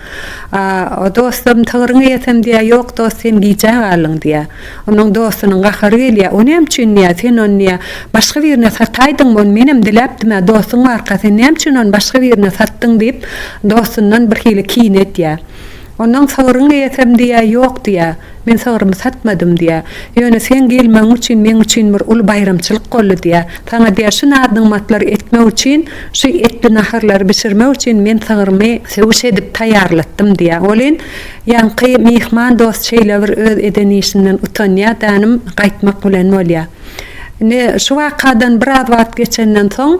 Dostum, sygryňy ýesem diýýär, ýok dost sen gijä galdyň diýýär. Onuň dostunyň gahary gelýär, O näme üçin diýýär, sen ony diýýär, başga birine sataýdyňmy, ony menem diläpdim-ä, dostuň barka, sen näme üçin ony başga birine satdyň diýip, dostundan birhili kin edýär. Ondan sygryňy eýesem diýýär, Ýok diýýär, men sygrymy satmadym diýýär. Ýöne seň gelmegiň üçin meň üçin bir uly baýramçylyk boldy diýýär. Saňa diýýär, şu naz-nygmatlary etmek üçin, şu etli naharlary bişirmek üçin men sygrymy söwüş edip taýýarlatdym diýýär. Welin, Ýaňky myhman dost şeýlebir öz eden işinden utanýar dänim gaýtmak bilen bolýar. Indi şu wakadan biraz wagt geçenden soň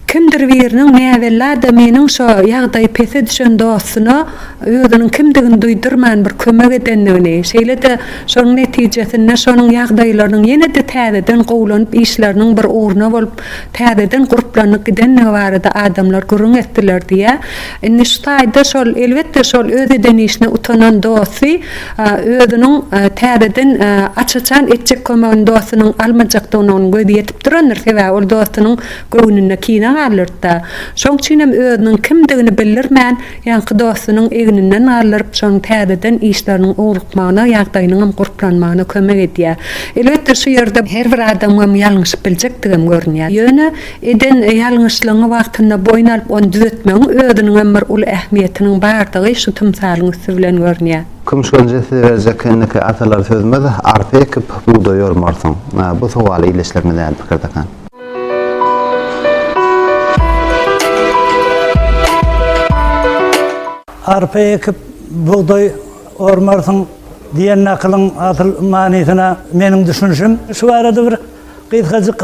kimdir biriniň näbella-da meniň şo ýagdaýy pese düşen dostuna özüniň kimdigini duýdurman bir kömek edendigini, şeýle-de şonuň netijesinde şonuň ýagdaýlarynyň ýene-de täzeden gowulanyp işleriniň bir ugruna bolup täzeden gurplanyp gidendigi barada adamlar gürrüň etdiler diýýär. Indi şu taýda şol, elbetde, şol öz eden işine utanan dosty özüniň täzeden aç-açan etjek kömegini dostunyň almajakdygyna onuň gözi ýetip durandyr, sebäbi ol dostunyň göwnüne kine galdyrdy-da. Şoň üçinem özüniň kimdigini bildirmän, ýaňky dostunyň egninden galdyryp, şonuň täzeden işleriniň ugrukmagyna, ýagdaýynyňam gurplanmagyna kömek edýär. Elbetde, şu ýerde her bir adamam ýalňyşyp biljekdigem görünýär. Ýöne Eden ýalňyşlygyňy wagtynda boýun alyp ony düzetmegiň özüniňem bir uly ähmiýetiniň bardygy şu tymsalyň üsti bilen görünýär. Küm şol jesli berjek indiki atalar sözmez, arpa ekip, bugdaý ýormarsyň. Bu sowal ile işlerini däl pikirdekä. Arpa ekip, bugdaý ormarsyň diýen nakylyň asyl manysyna meniň düşünişim şu barada bir Gysgajyk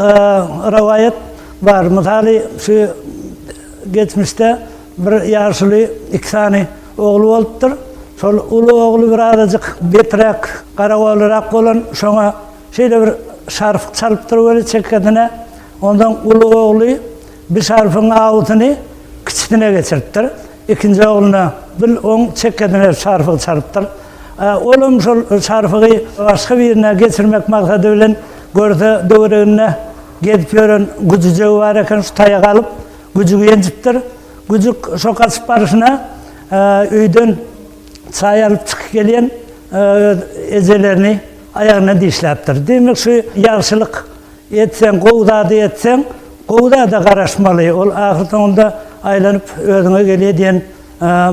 rowaýat bar. Mysaly, şu geçmişde bir ýaşuly iki sany ogly bolupdyr. Şol uly ogly birazajyk beträk, garagolyrak bolan, şoňa şeýle bir şarf çalypdyr weli çekgesine. Onsoň uly ogly bi şarfyň awusyny kiçisine geçiripdir. Ikinji ogluna bil oň çek ediner çarpygy çalypdyr. Olam şol çarpygy başga birine geçirmek maksady bilen görse döwereginde gezip ýören güjüjegi bar eken şu taýagy alyp güjügi ýenjipdir. Güjük şo gaçyp baryşyna öýden çaý alyp çykyp gelýän öz ejelerini aýagyna dişläpdir. Diýmek şu ýagşylyk. Etseň gowy zady etseň, gowy zada garaşmaly, ol ahyrsoňunda aýlanyp özüňe gelýär diýen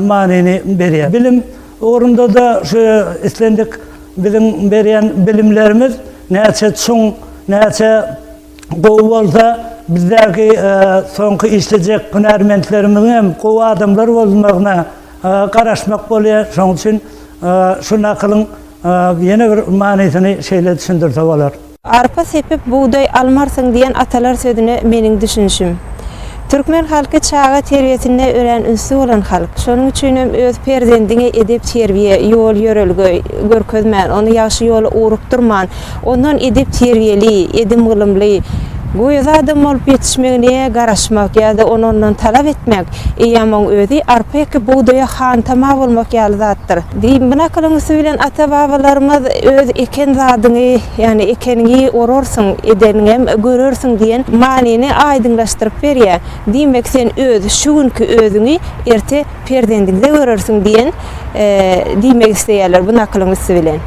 manyny berýär. Bilim ugrunda-da şu islendik biziň berýän bilimlerimiz näçe çuň, näçe gowy bolsa, bizdäki soňky işlejek hünärmentlerimiziň hem gowy adamlar bolmagyna garaşmak bolýar. Şonuň üçin şu nakylyň ýene bir manysyny şeýle düşündirse bolar. Arpa sepip bugdaý almarsyň diýen atalar sözüne meniň düşünişim. Türkmen halky çaga terbiýesinde örän ünsli bolan halk. Şonuň üçinem öz perzendiňe edep-terbiýe, ýol-ýörelge görkezmän, ony ýagşy ýola ugrukdyrman, ondan edep-terbiýeli, edim-gylymly, göýä adam bolup ýetişmegine garaşmak ýa-da ony ondan talap etmek, Eýýäm oň özi arpa ekip bugdaýa hantama bolmak ýaly zatdyr. Bu nakylyň üsti bilen ata-babalarymyz Öz eken zadyňy, ýagny ekeniňi orarsyň, edeniňem görersiň diýen manyny aýdyňlaşdyryp berýär. Diýmek, sen öz şu günki özüňi erte perzendiňde görersiň diýen diýmek isleýärler bu nakylyň üsti bilen.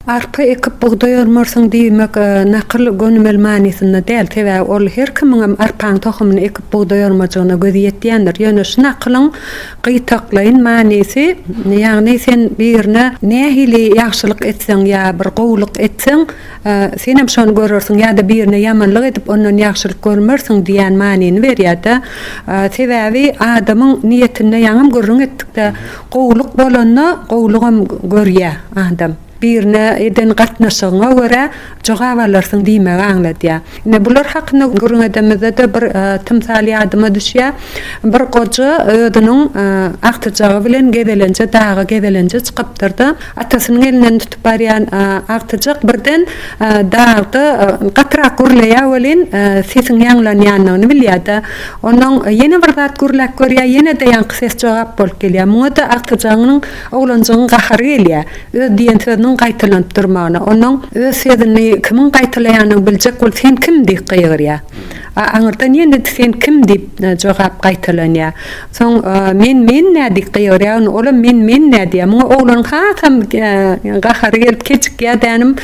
Arpa ekip bugdaý ormarsyň diýmek nakyl gönümel manysynda däl, sebäbi ol her kimiňem arpaň tohumyny ekip bugdaý ormajygyna gözi ýetýändir. Ýöne şu nakylyň gytaklaýyn manysy, ýagny sen birine nähili ýagşylyk etseň ýa bir gowulyk etseň, senem şony görersiň ýa-da birine ýamanlyk edip ondan ýagşylyk görmersiň diýýän manyny berýär-de. Sebäbi adamyň niýetinde ýaňam gürrüň etdik-de, Gowulyk bolanda gowulygam görýär adam. Birine eden gatnaşygyňa görä jogap alarsyň diýmegi aňladýar. Ine bular hakynda gürrüň edemizde-de bir tymsal ýadyma düşýär. Bir goja özüniň agtyjagy bilen gezelenje daga gezelenje çykypdyr-da, atasynyň elinden tutup barýan agtyjak birden Dagda gatyrak gürleýär welin, sesiň ýaňlanýandygyny bilýär-de. Onnoň ýene bir zat gürläp görýär, ýene-de ýaňky ses jogap bolup gelýär. Muňa-da agtyjagynyň oglanjygyň gahary gelýär, öz diýen sözüniň gaýtalanyp durmagyna. Onnoň öz sözüni kimiň gaýtalaýanyny biljek bolup, Sen kim? diýip gygyrýar. A aňyrdan ýene-de Sen kim? diýip jogap gaýtalanýar. Soň men men nä diýip gygyryagyn olam men men nä diýýä muňa oglanyň hasam gahary gelip kejikýä dänim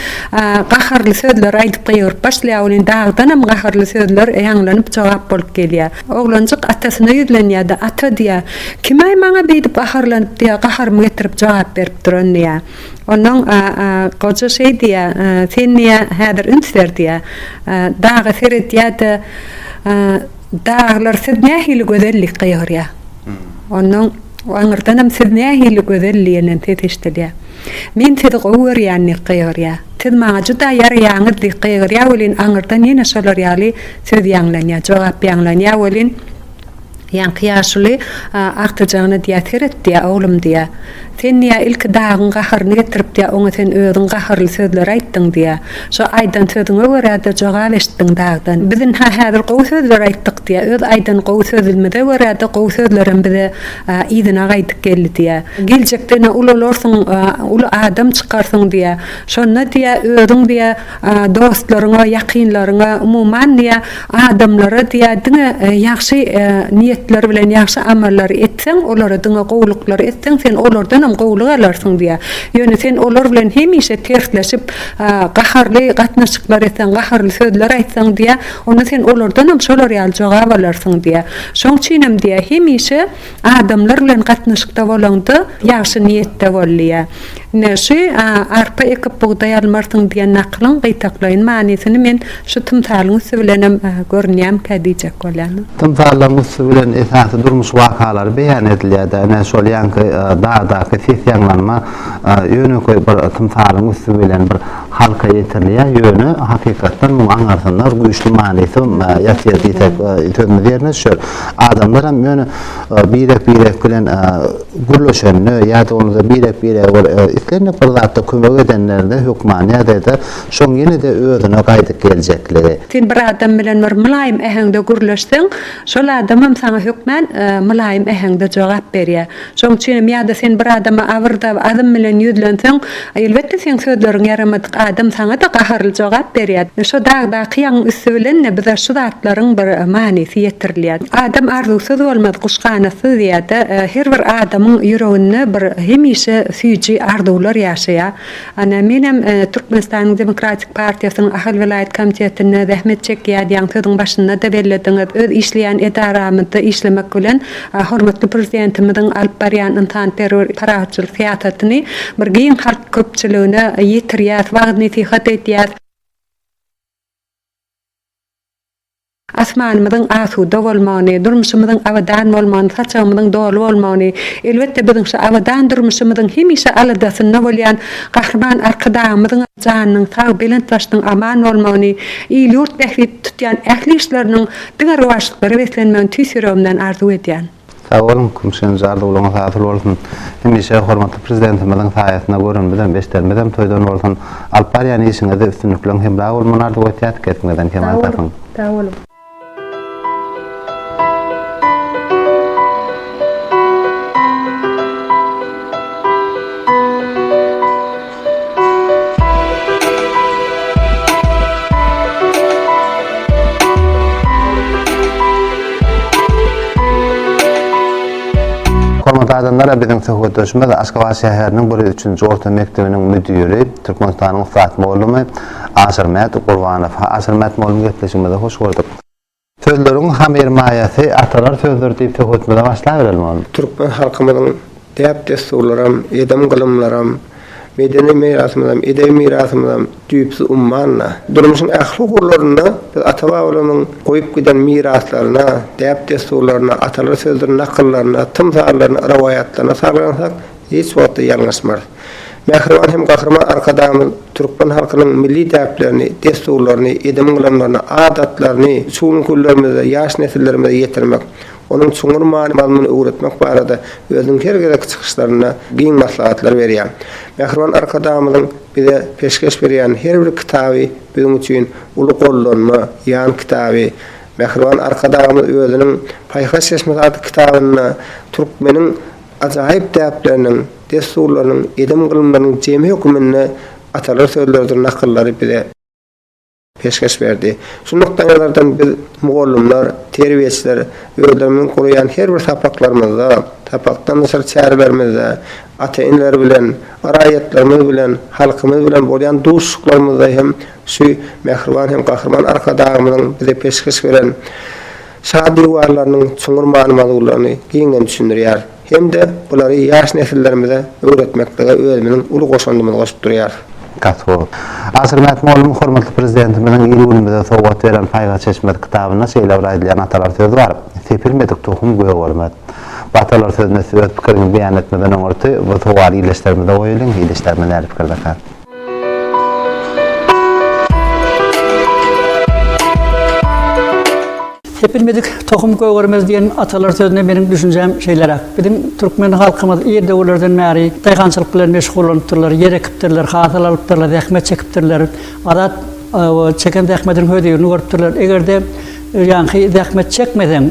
gaharly sözler aýdyp gygyryp başlaýa welin dagdanam gaharly sözler ýaňlanyp jogap bolup gelýä oglanjyk atasyna ýüzlenýä da ata diýýä kimaý maňa beýdip gaharlanyp diýýä gaharymy getirip jogap berip duran diýýä ondan goja şeý diýýä sen diýýä häzir üns ber diýýä daga seredýä de Daglar siz nähili gözellik gygyrýa. Ondan aňyrdanam siz nähili gözel diýenden ses eşdilýä. Men sizi gowy görýän diýip gygyrýa. Siz maňa juda ýaraýaňyz diýip gygyrýa welin aňyrdan ýene şolar ýaly söz ýaňlanýa, jogap ýaňlanýa welin ýaňky ýaşuly agtyjagyna diýýä seret diýýä oglum diýýä. Sen diýýär, ilki dagyň gaharyny getiripdiýýär, oňa sen özüň gahyrly sözler aýtdyň diýýär. Şo aýdan sözüňe görä-de jogap eşitdiň dagdan. Biz ynha häzir gowy sözler aýtdyk diýýär. Öz aýdan gowy sözümize görä-de gowy sözlerem bize yzyna gaýdyp geldi diýýär. Geljekde ine ulalarsyň, uly adam çykarsyň diýýär. Şonda diýýär, özüň diýýär, dostlaryňa, ýakynlaryňa, umuman diýä adamlara diýä diňe ýagşy niýetler bilen ýagşy amallary etseň, olara diňe gowulyklary etseň, sen olardanam gowulyk alarsyň diýä. Ýöne sen olar bilen hemişe tersleşip, gaharly gatnaşyklar etseň, gaharly sözler aýtsaň diýä, onda sen olardanam şolar ýaly jogap alarsyň diýä. Şoň üçinem diýä, hemişe Adamlar bilen gatnaşykda bolaňda ýagşy niýetde bol diýýär. Ine şu arpa ekip bugdaý almarsyň diýen nakylyň gytaklaýyn manysyny men şu tymsalyň üsti bilenem görünýämkä diýjek bolýan. Tymsallaryň üsti bilen esasy durmuş wakalary beýan edilýär-dä. Ine şol ýaňky dagdaky ses ýaňlanma ýönekeý bir tymsalyň üsti bilen bir halka ýetirilýär, ýöne hakykatdan muň aňarsynda güýçli manysy ýatyr diýsek sözümiz ýerine düşer. Adamlar hem ýöne birek-birek bilen gürleşende ýa-da bolmasa birek-birege bir islendik bir zatda kömek edenlerinde hökmany ýagdaýda şoň ýene-de özüne gaýdyp geljekligi. Sen bir adam bilen bir mylaýym äheňde gürleşseň, şol adamam saňa hökmän mylaýym äheňde jogap berýär. Şoň üçinem ýa-da sen bir adama abyrdar azm bilen ýüzlenseň, elbetde seň sözleriň ýaramadyk adam saňa-da gaharly jogap berýär. Şo dagdaky ýagyň üsti bilen-de bize şu zatlaryň bir manysy ýetirilýär. Adam arzuwsyz bolmaz, guş ganatsyz diýýär-de, her bir adamyň ýüreginde bir hemişe süýji arzuwlar ýaşaýar. Ana, menem Türkmenistanyň Demokratik partiýasynyň Ahal welaýat komitetinde zähmet çekýän, ýaňy sözüň başynda-da bellediňiz, öz işleýän edaramyzda işlemek bilen, hormatly Prezidentimiziň alyp barýan ynsanperwer, parahatçyl syýasatyny bir giň halk köpçüligine ýetirýäs, wagyz-nesihat edýäs. Asmanymyzyň asuda bolmagyny, durmuşymyzyň abadan bolmagyny, saçagymyzyň doly bolmagyny, elbetde, biziň şu abadan durmuşymyzyň hemişe aladasynda bolýan Gahryman Arkadagymyzyň janynyň sag, belent başynyň aman bolmagyny, il-ýurt bähbitli tutýan ähli işleriniň diňe rowaçlyklara beslenmegini tüýs ýüregimden arzuw edýän. Sag boluň Kümşen jar dowlugyňyz hasyl bolsun hemişe hormatly prezidentimiziň saýasynda görenimizem eşidenimizem toýdan bolsun alyp barýan işiňizde üstünlikleň hemra bolmagyny arzuw etýäs kesbiňizden kemal tapyň. Sag boluň. Hormatly adamlar, biziň söhbetdeşimiz Aşgabat şäheriniň bir ýüz üçünji orta mekdebiniň müdiri, Türkmenistanyň ussat mugallamy Aşyrmät Gurbanow. Aşyrmät mugallym gepleşigimize hoş gördük. Sözleriň hamyrmaýasy atalar sözdür diýip söhbetimize başlabereli onda. Türkmen halkymyzyň däp-dessurlaram, edem-gylymlaram, medeni mirasymyzam, edebi mirasymyzam düýpsüz ummanda. Durmuşyň ähli ugurlarynda biz ata-babalarymyzyň goýup giden miraslaryna, däp-dessurlaryna, atalar sözdür nakyllaryna, tymsallaryna, rowaýatlaryna salglansak, hiç wagtda ýalňyşmarys. Mähriban hem Gahryman Arkadagymyz türkmen halkynyň milli däplerini, dessurlaryny, edim-gylamlaryny, adatlaryny şu günki günlerimizde ýaş nesillerimize ýetirmek, onuň çuňňur many-mazmunyny öwretmek barada özüniň her gezekki çykyşlarynda giň maslahatlar berýär. Mähriban Arkadagymyzyň bize peşgeş berýän her bir kitaby biziň üçin uly gollanma, ýan kitaby. Mähriban Arkadagymyz özüniň Paýhas çeşmesi atly kitabynda türkmeniň. Ajaýyp däpleriniň, dessurlarynyň, edem-gylymlarynyň jemi höküminde atalar sözleridir nakyllary bize peşgeş berdi. Şu nukdaýnazardan biz, mugallymlar, terbiýeçiler özlerimiziň guraýan her bir sapaklarymyzda, sapakdan daşary çärelerimizde, ata-eneler bilen, raýatlarymyz bilen, halkymyz bilen bolýan duşuşyklarymyzda hem şu mähriban hem gahryman Arkadagymyzyň bize peşgeş beren Şa diwarlarynyň çuňňur many-mazlulyny giňden düşündirýär hem-de bulary ýaş nesillerimize öwretmeklige özümiziň uly goşandymyzy goşup durýarys. Kasko. Aşyr Mätmoglunyň hormatly Prezidentimiziň il-günümize sowgat beren Paýhas çeşmesi kitabynda şeýle bir aýdylýan atalar sözi bar, Sepilmedik tohum gök ormaz. Bu atalar sözüne siz öz pikiriňizi beýan etmeden öňürti bu sowaly ildeşlerimize goýalyň, ildeşlerimiz nädip pikirdekä? Sepilmedik tohum gögermez diýen atalar sözüne meniň düşünjem şeýleräk. Biziň türkmen halkymyz ir döwürlerden bäri daýhançylyk bilen meşgullanypdyrlar, ýer ekipdirler, hasyl alypdyrlar, zähmet çekipdirler. Azat çeken zähmediniň hözirini görüpdirler. Eger-de ýaňky zähmet çekmeseň,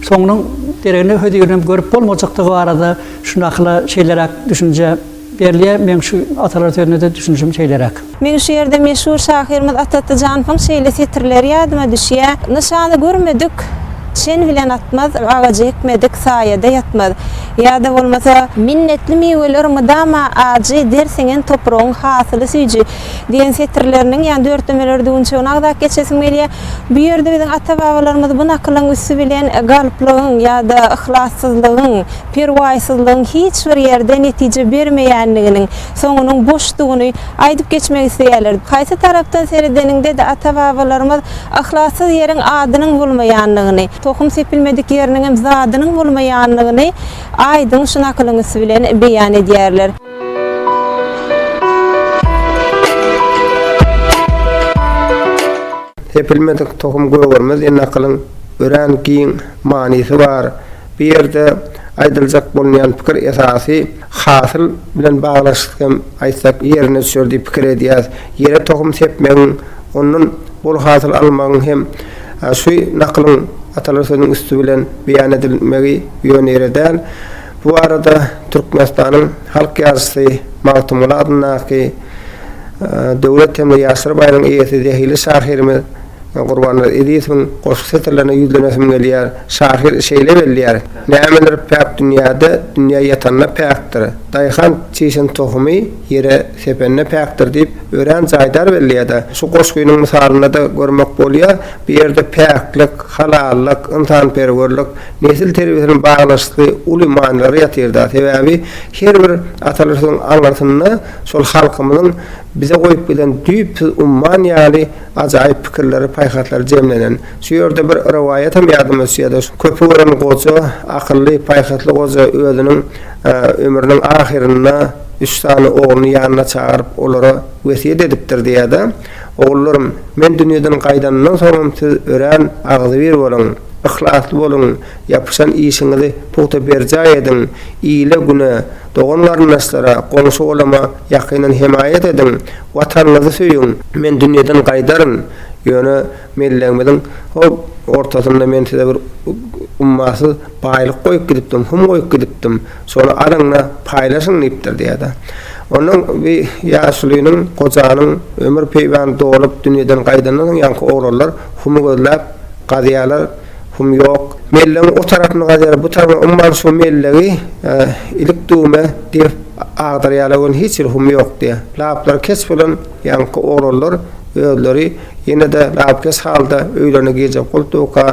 soňunyň deregini, hözirini hem görüp bolmajakdygy barada şundakylar şeýleräk düşünje. Berlýä meň şu atalar sözünede düşünişim şeýleräk. Meň şu ýerde meşhur şahyrymyz Atatly Janowyň şeýle setirleri ýadyma düşýä, Nyşany görmedik çen bilen atmaz, Agajy ekmedik saýada ýatmaz. Ýa-da bolmasa. Minnetli miweler mydama ajy, Der siňen topragyň hasyly süýji diýen setirleriniň ýa dörtlemeleri düwünçegini agzap geçesim gelýä. Bu ýerde biziň ata-babalarymyz bu nakylyň üsti bilen galplygyň ýa-da yhlassyzlygyň, perwaýsyzlygyň hiç bir ýerde netije bermeýändiginiň, soňunyň boşdugyny aýdyp geçmek isleýärler. Haýsy tarapdan seredeniňde-de ata-babalarymyz yhlassyz ýeriň adynyň bolmaýandygyny, tohum sepilmedik ýeriniňem zadynyň bolmaýandygyny aýdyň şu nakylyň üsti bilen beýan edýärler. Sepilmedik tohum gögermez diýen nakylyň örän giň manysy bar. Bu ýerde aýdyljak bolunýan pikir esasy hasyl bilen baglanyşykly hem aýtsak ýerine düşer diýip pikir edýäs. Ýere tohum sepmegiň, ondan bol hasyl almagyň hem şu nakylyň atalar sözüniň üsti bilen beýan edilmegi ýöneýre däl. Bu barada Türkmenistanyň halk ýazyjysy Magtymguly adyndaky döwlet hem-de ýaşlar baýragynyň eýesi zehili şahyrymyz, Men Gurbannazar Ezizowyň goşgy setirlerine ýüzlenesim gelýär. Şahyr şeýle belleýär, Nämeler päk dünýäde, dünýä ýatanda päkdir. Daýhan çişen tohumy ýere sepende päkdir diýip, örän jaýdar belleýär-de. Şu goşgynyň mysalynda-da görmek bolýar, bu ýerde päklik, halallyk, ynsanperwerlik, nesil terbiýesiniň baglanyşykly uly manylary ýatyr-da. Sebäbi her bir atalar sözüň aňyrsynda şol halkymyzyň bize goýup giden düýpsüz umman ýaly Ajaýyp pikirleri, paýhaslary jemlenen şu ýerde bir rowaýatam ýadyma düşýär-de, şu köpi gören goja, akylly, paýhasly goja özüniň ömrüniň ahyrynda üç sany ogluny ýanyna çagyryp, olara wesýet edipdir diýýär-de, Ogullarym, men dünýeden gaýdanymdan soňam siz örän agzybir boluň, yhlasly boluň, ýapyşan işiňizi pugta berjaý ediň, ile-güne, dogan-garyndaşlara, goňşy-golama Ýakyndan hemaýat ediň, Watanyňyzy söýüň! Men dünýeden gaýdaryn, ýöne mellegimiziň hop ortasynda men size bir ummasyz baýlyk goýup gidipdim, hum goýup gidipdim, şony alyň-da, paýlaşyň diýipdir diýýär-de. Onda bi ýaşulynyň, gojanyň ömür peýbany dolup, dünýeden gaýdandan soň ýaňky oglanlar humy gözläp gazýarlar. Hum ýok. Mellegiň o tarapyny gazer, bu tarapyny umman şu mellegi ilik düwme degip agdarýarlar welin hiç ýerde hum ýok diýýär. Laplary keç bolan ýaňky oglanlar özleri ýene-de lapykeç halda öýlerine girjek bolupdyka,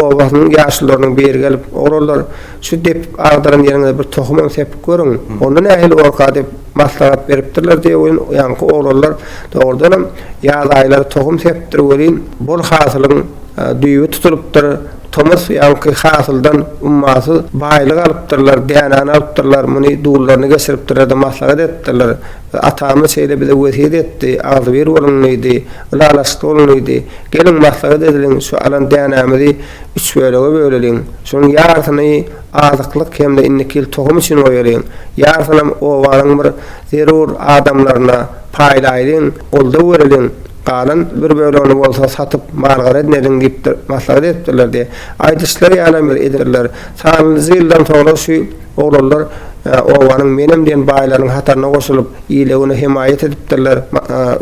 obasynyň ýaşulularynyň biri gelip, Oglanlar, şu depip agdaran ýeriňize bir tohumam sepip görüň, onda nähili bolarka diýip maslahat beripdirler diýip welin, ýaňky oglanlar dogrudanam ýaz aýlary tohum sepipdir welin, bol hasylyň Düýbi tutulypdyr, tomus ýaňky hasyldan ummasyz baýlyk alypdyrlar, dänäni alypdyrlar, muny dullaryna geçiripdirler-de maslahat edipdirler. Atamyz şeýle bize wesýet etdi, agzybir boluň diýdi, ylalaşykly boluň diýdi. Geliň, maslahat edeliň, şu alan dänämizi üç bölege böleliň. Şunuň ýarysyny azyklyk hem-de indiki ýyl tohum üçin goýalyň. Ýarysynam obanyň bir zerur adamlaryna paýlaýlyň, goldaw bereliň. Galan bir bölegini bolsa satyp mal-garyn ediň diýip maslahat edipdirler diýip, aýdyşlary ýalam bir edipdirler. Sanlyja ýyldan soňra şu oglanlar obanyň menem diýen baýlarynyň hataryna goşulyp, ile-güne hemaýat edipdirler,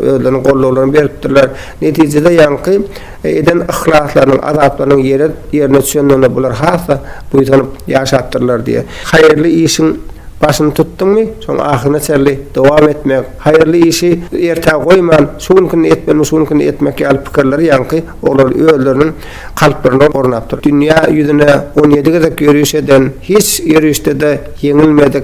özleriniň gollaglaryny beripdirler. Netijede ýaňky eden yhlaslarynyň, azaplarynyň ýerine düşendigine bular has-da buýsanyp ýaşapdyrlar diýip, haýyrly işiň başyny tutduňmy, şoň ahyryna çenli dowam etmek, Haýyrly işi ertä goýman, şu günkini etmelimi, şu günkini etmek ýaly pikirler ýaňky olar özleriniň kalplaryna ornap dur. Dünýä ýüzüne on ýedi gezek ýöriş eden, hiç ýörişde-de ýeňilmedik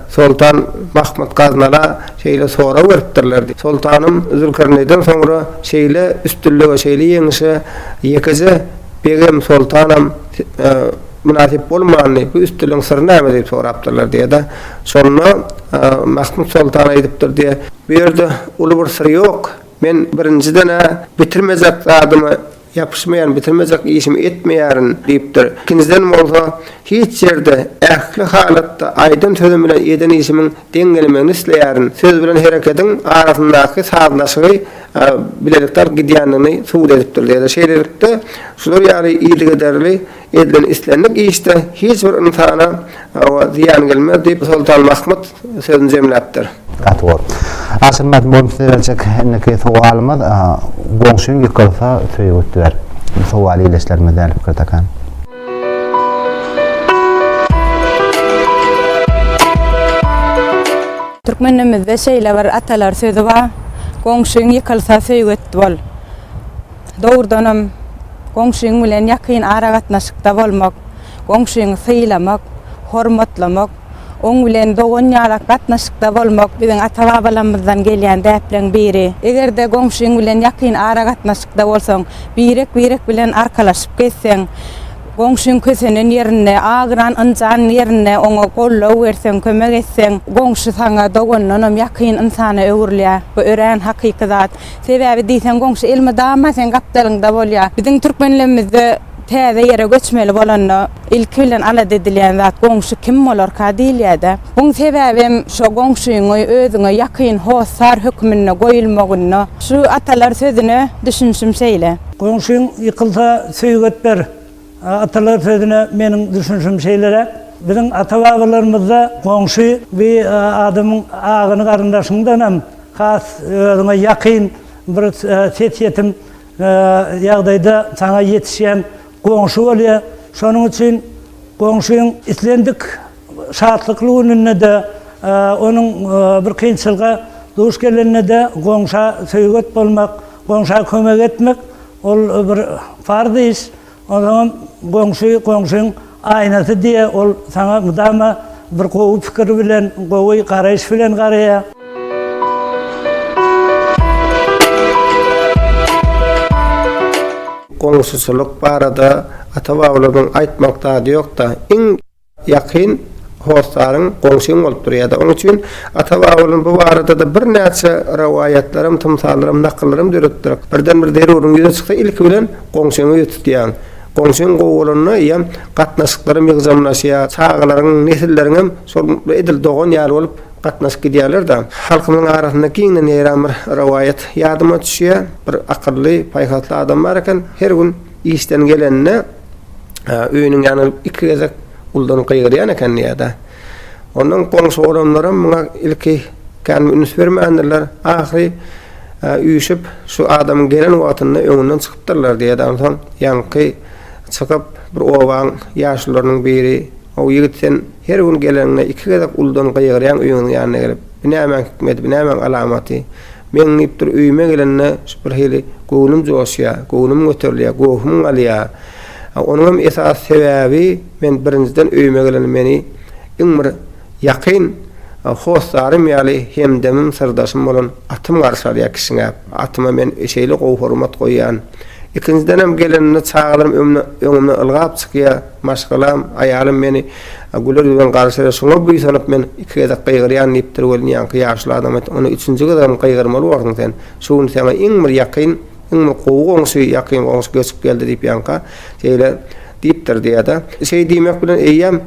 Soltan Mahmyt Gaznala şeýle sorag beripdirler, Soltanym, Zülkerneýden soňra şeýle üstünlige, şeýle ýeňişe ýekeje begem, soltanam, Mynasyp bolmandy, bu üstünligiň syry näme diýip sorapdyrlar diýýär-de. Şonda Mahmyt soltan aýdypdyr diýýär. Bu ýerde uly bir syr ýok. Men birinjiden-ä bitirmejek zadyma ýapyşmaýaryn, bitirmejek işimi etmeýärin diýipdir. Ikinjiden bolsa, hiç ýerde, ähli halatda aýdan sözüm bilen eden işimiň deň gelmegini isleýärin. Söz bilen herekediň arasyndaky sazlaşygy bilelikde alyp gidýändigini subut edipdir diýýär. Şeýlelikde, şular ýaly yzygiderli. Edilen islendik işde hiç bir ynsana hawa zyýan gelmez diýip, Soltan Mahmut sözüni jemläpdir. Gaty gowy. Aşyrmaz boýun size berjek indiki sowalymyz, Goňşyň ýykylsa söýgi utdyber. Bu sowaly ildeşlerimiz däli pikir takan. Türkmen dilimizde şeýle bir atalar sözi bar, Goňşyň ýykylsa söýgi utdy bol. Dogrudanam, goňşyň bilen ýakyn aragatnaşykda bolmak, goňşyňy sylamak, hormatlamak, oň bilen dogan ýalak gatnaşykda bolmak biziň ata-babalarymyzdan gelýän däpleriň biri. Eger-de goňşyň bilen ýakyn aragatnaşykda bolsaň, birek-birek bilen arkalaşyp gezseň, goňşyň kösenen ýerinde, agyran, ynjan ýerinde oňa goldaw berseň, kömek etseň, goňşy saňa dogandanam ýakyn ynsana öwrülýär. Bu örän hakyky zat. Sebäbi diýseň goňşy elmydama seň gapdalyňda bolýar. Biziň türkmenlemizde täze ýere göçmeli bolanda ilki bilen alada edilýän zat goňşy kim bolarka diýilýärde. Buň sebäbem şo goňşyňy özüňe ýakyn hossar höküminde goýulmagynda. Şu atalar sözüne düşünşim şeýle. Goňşyň ýykylsa söýget ber. Atalar sözüne meniň düşünişim şeýleräk. Biziň ata-babalarymyzda goňşy we adamyň agyny-garyndaşyňdan hem has özüňe ýakyn bir ses ýetim ýagdaýda saňa ýetişýän goňşy bolýar. Şonuň üçin goňşyň islendik şatlykly gününde-de, onuň bir kynçylyga duş gelende-de goňşa söýget bolmak, goňşa kömek etmek Ol bir farz iş. Onsoňam goňşy goňşyň aýnasy diýe, ol saňa mydama bir gowy pikir bilen, gowy garaýyş bilen garaýa. Goňşuçylyk barada ata-babalarymyzyň aýtmalyk zady ýok-da. Iň. Ýakyn hossaryň goňşyň bolup durýar-da. Onuň üçin ata-babalarymyz bu barada-da birnäçe rowaýatlaram, tymsallaram, nakyllaram döretdiler. Birden-bir zeruryň ýüze çyksa, ilki bilen goňşyňy ýüze tutýaň. Goňşyň gowy bolanda, eýýäm gatnaşyklaram ýygjamlaşýar. Çagalaryň, nesilleriňem şol edil dogan ýaly bolup gatnaşyp gidýärler-de. Halkymyzyň arasynda giňden ýaýran bir rowaýat ýadyma düşýär. Bir akylly, paýhasly adam bar eken. Her gün işden gelende. öýüniň ýanyna gelip iki gezek uldanyp gygyrýan eken diýýär-de. Ondan goňşy olanlaram muňa ilki kän üns bermändirler, ahyry üýşüp, şu adamyň gelen wagtynda öňünden çykypdyrlar diýýär-de. Onsoň ýaňky çykyp, bir obaň ýaşulularynyň biri, How, ýigit, sen her gün geleniňde iki gezek uldanyp gygyrýaň öýüňiň ýanyna gelip. Bu nämäň hikmeti, bu nämäň alamaty? Meň diýipdir, öýüme gelende bir hili göwnüm joşýar, göwnüm göterilýär, gohum galýar. Onuň hem esasy sebäbi, men birinjiden öýüme gelende meni iň bir ýakyn hossarym ýaly hemdemim, syrdaşym bolan atym garşy alýar kişňäp. Atyma men şeýle gowy hormat goýýan. Ikinjidenem gelenimde çagalarym öňümden ylgap çykýar. Maşgalam, aýalym meni güler ýüzben garşylar, şoňa buýsanyp men iki gezek gygyrýan diýipdir welin ýaňky ýaşly adam aýtdy, Ony üçünji gezegem gygyrmaly borsuň sen. Şu gün saňa iň bir ýakyn, iň bir gowy goňşy, ýakyn goňşy göçüp geldi diýip ýaňka şeýle diýipdir diýýär-de. Şeý diýmek bilen eýýäm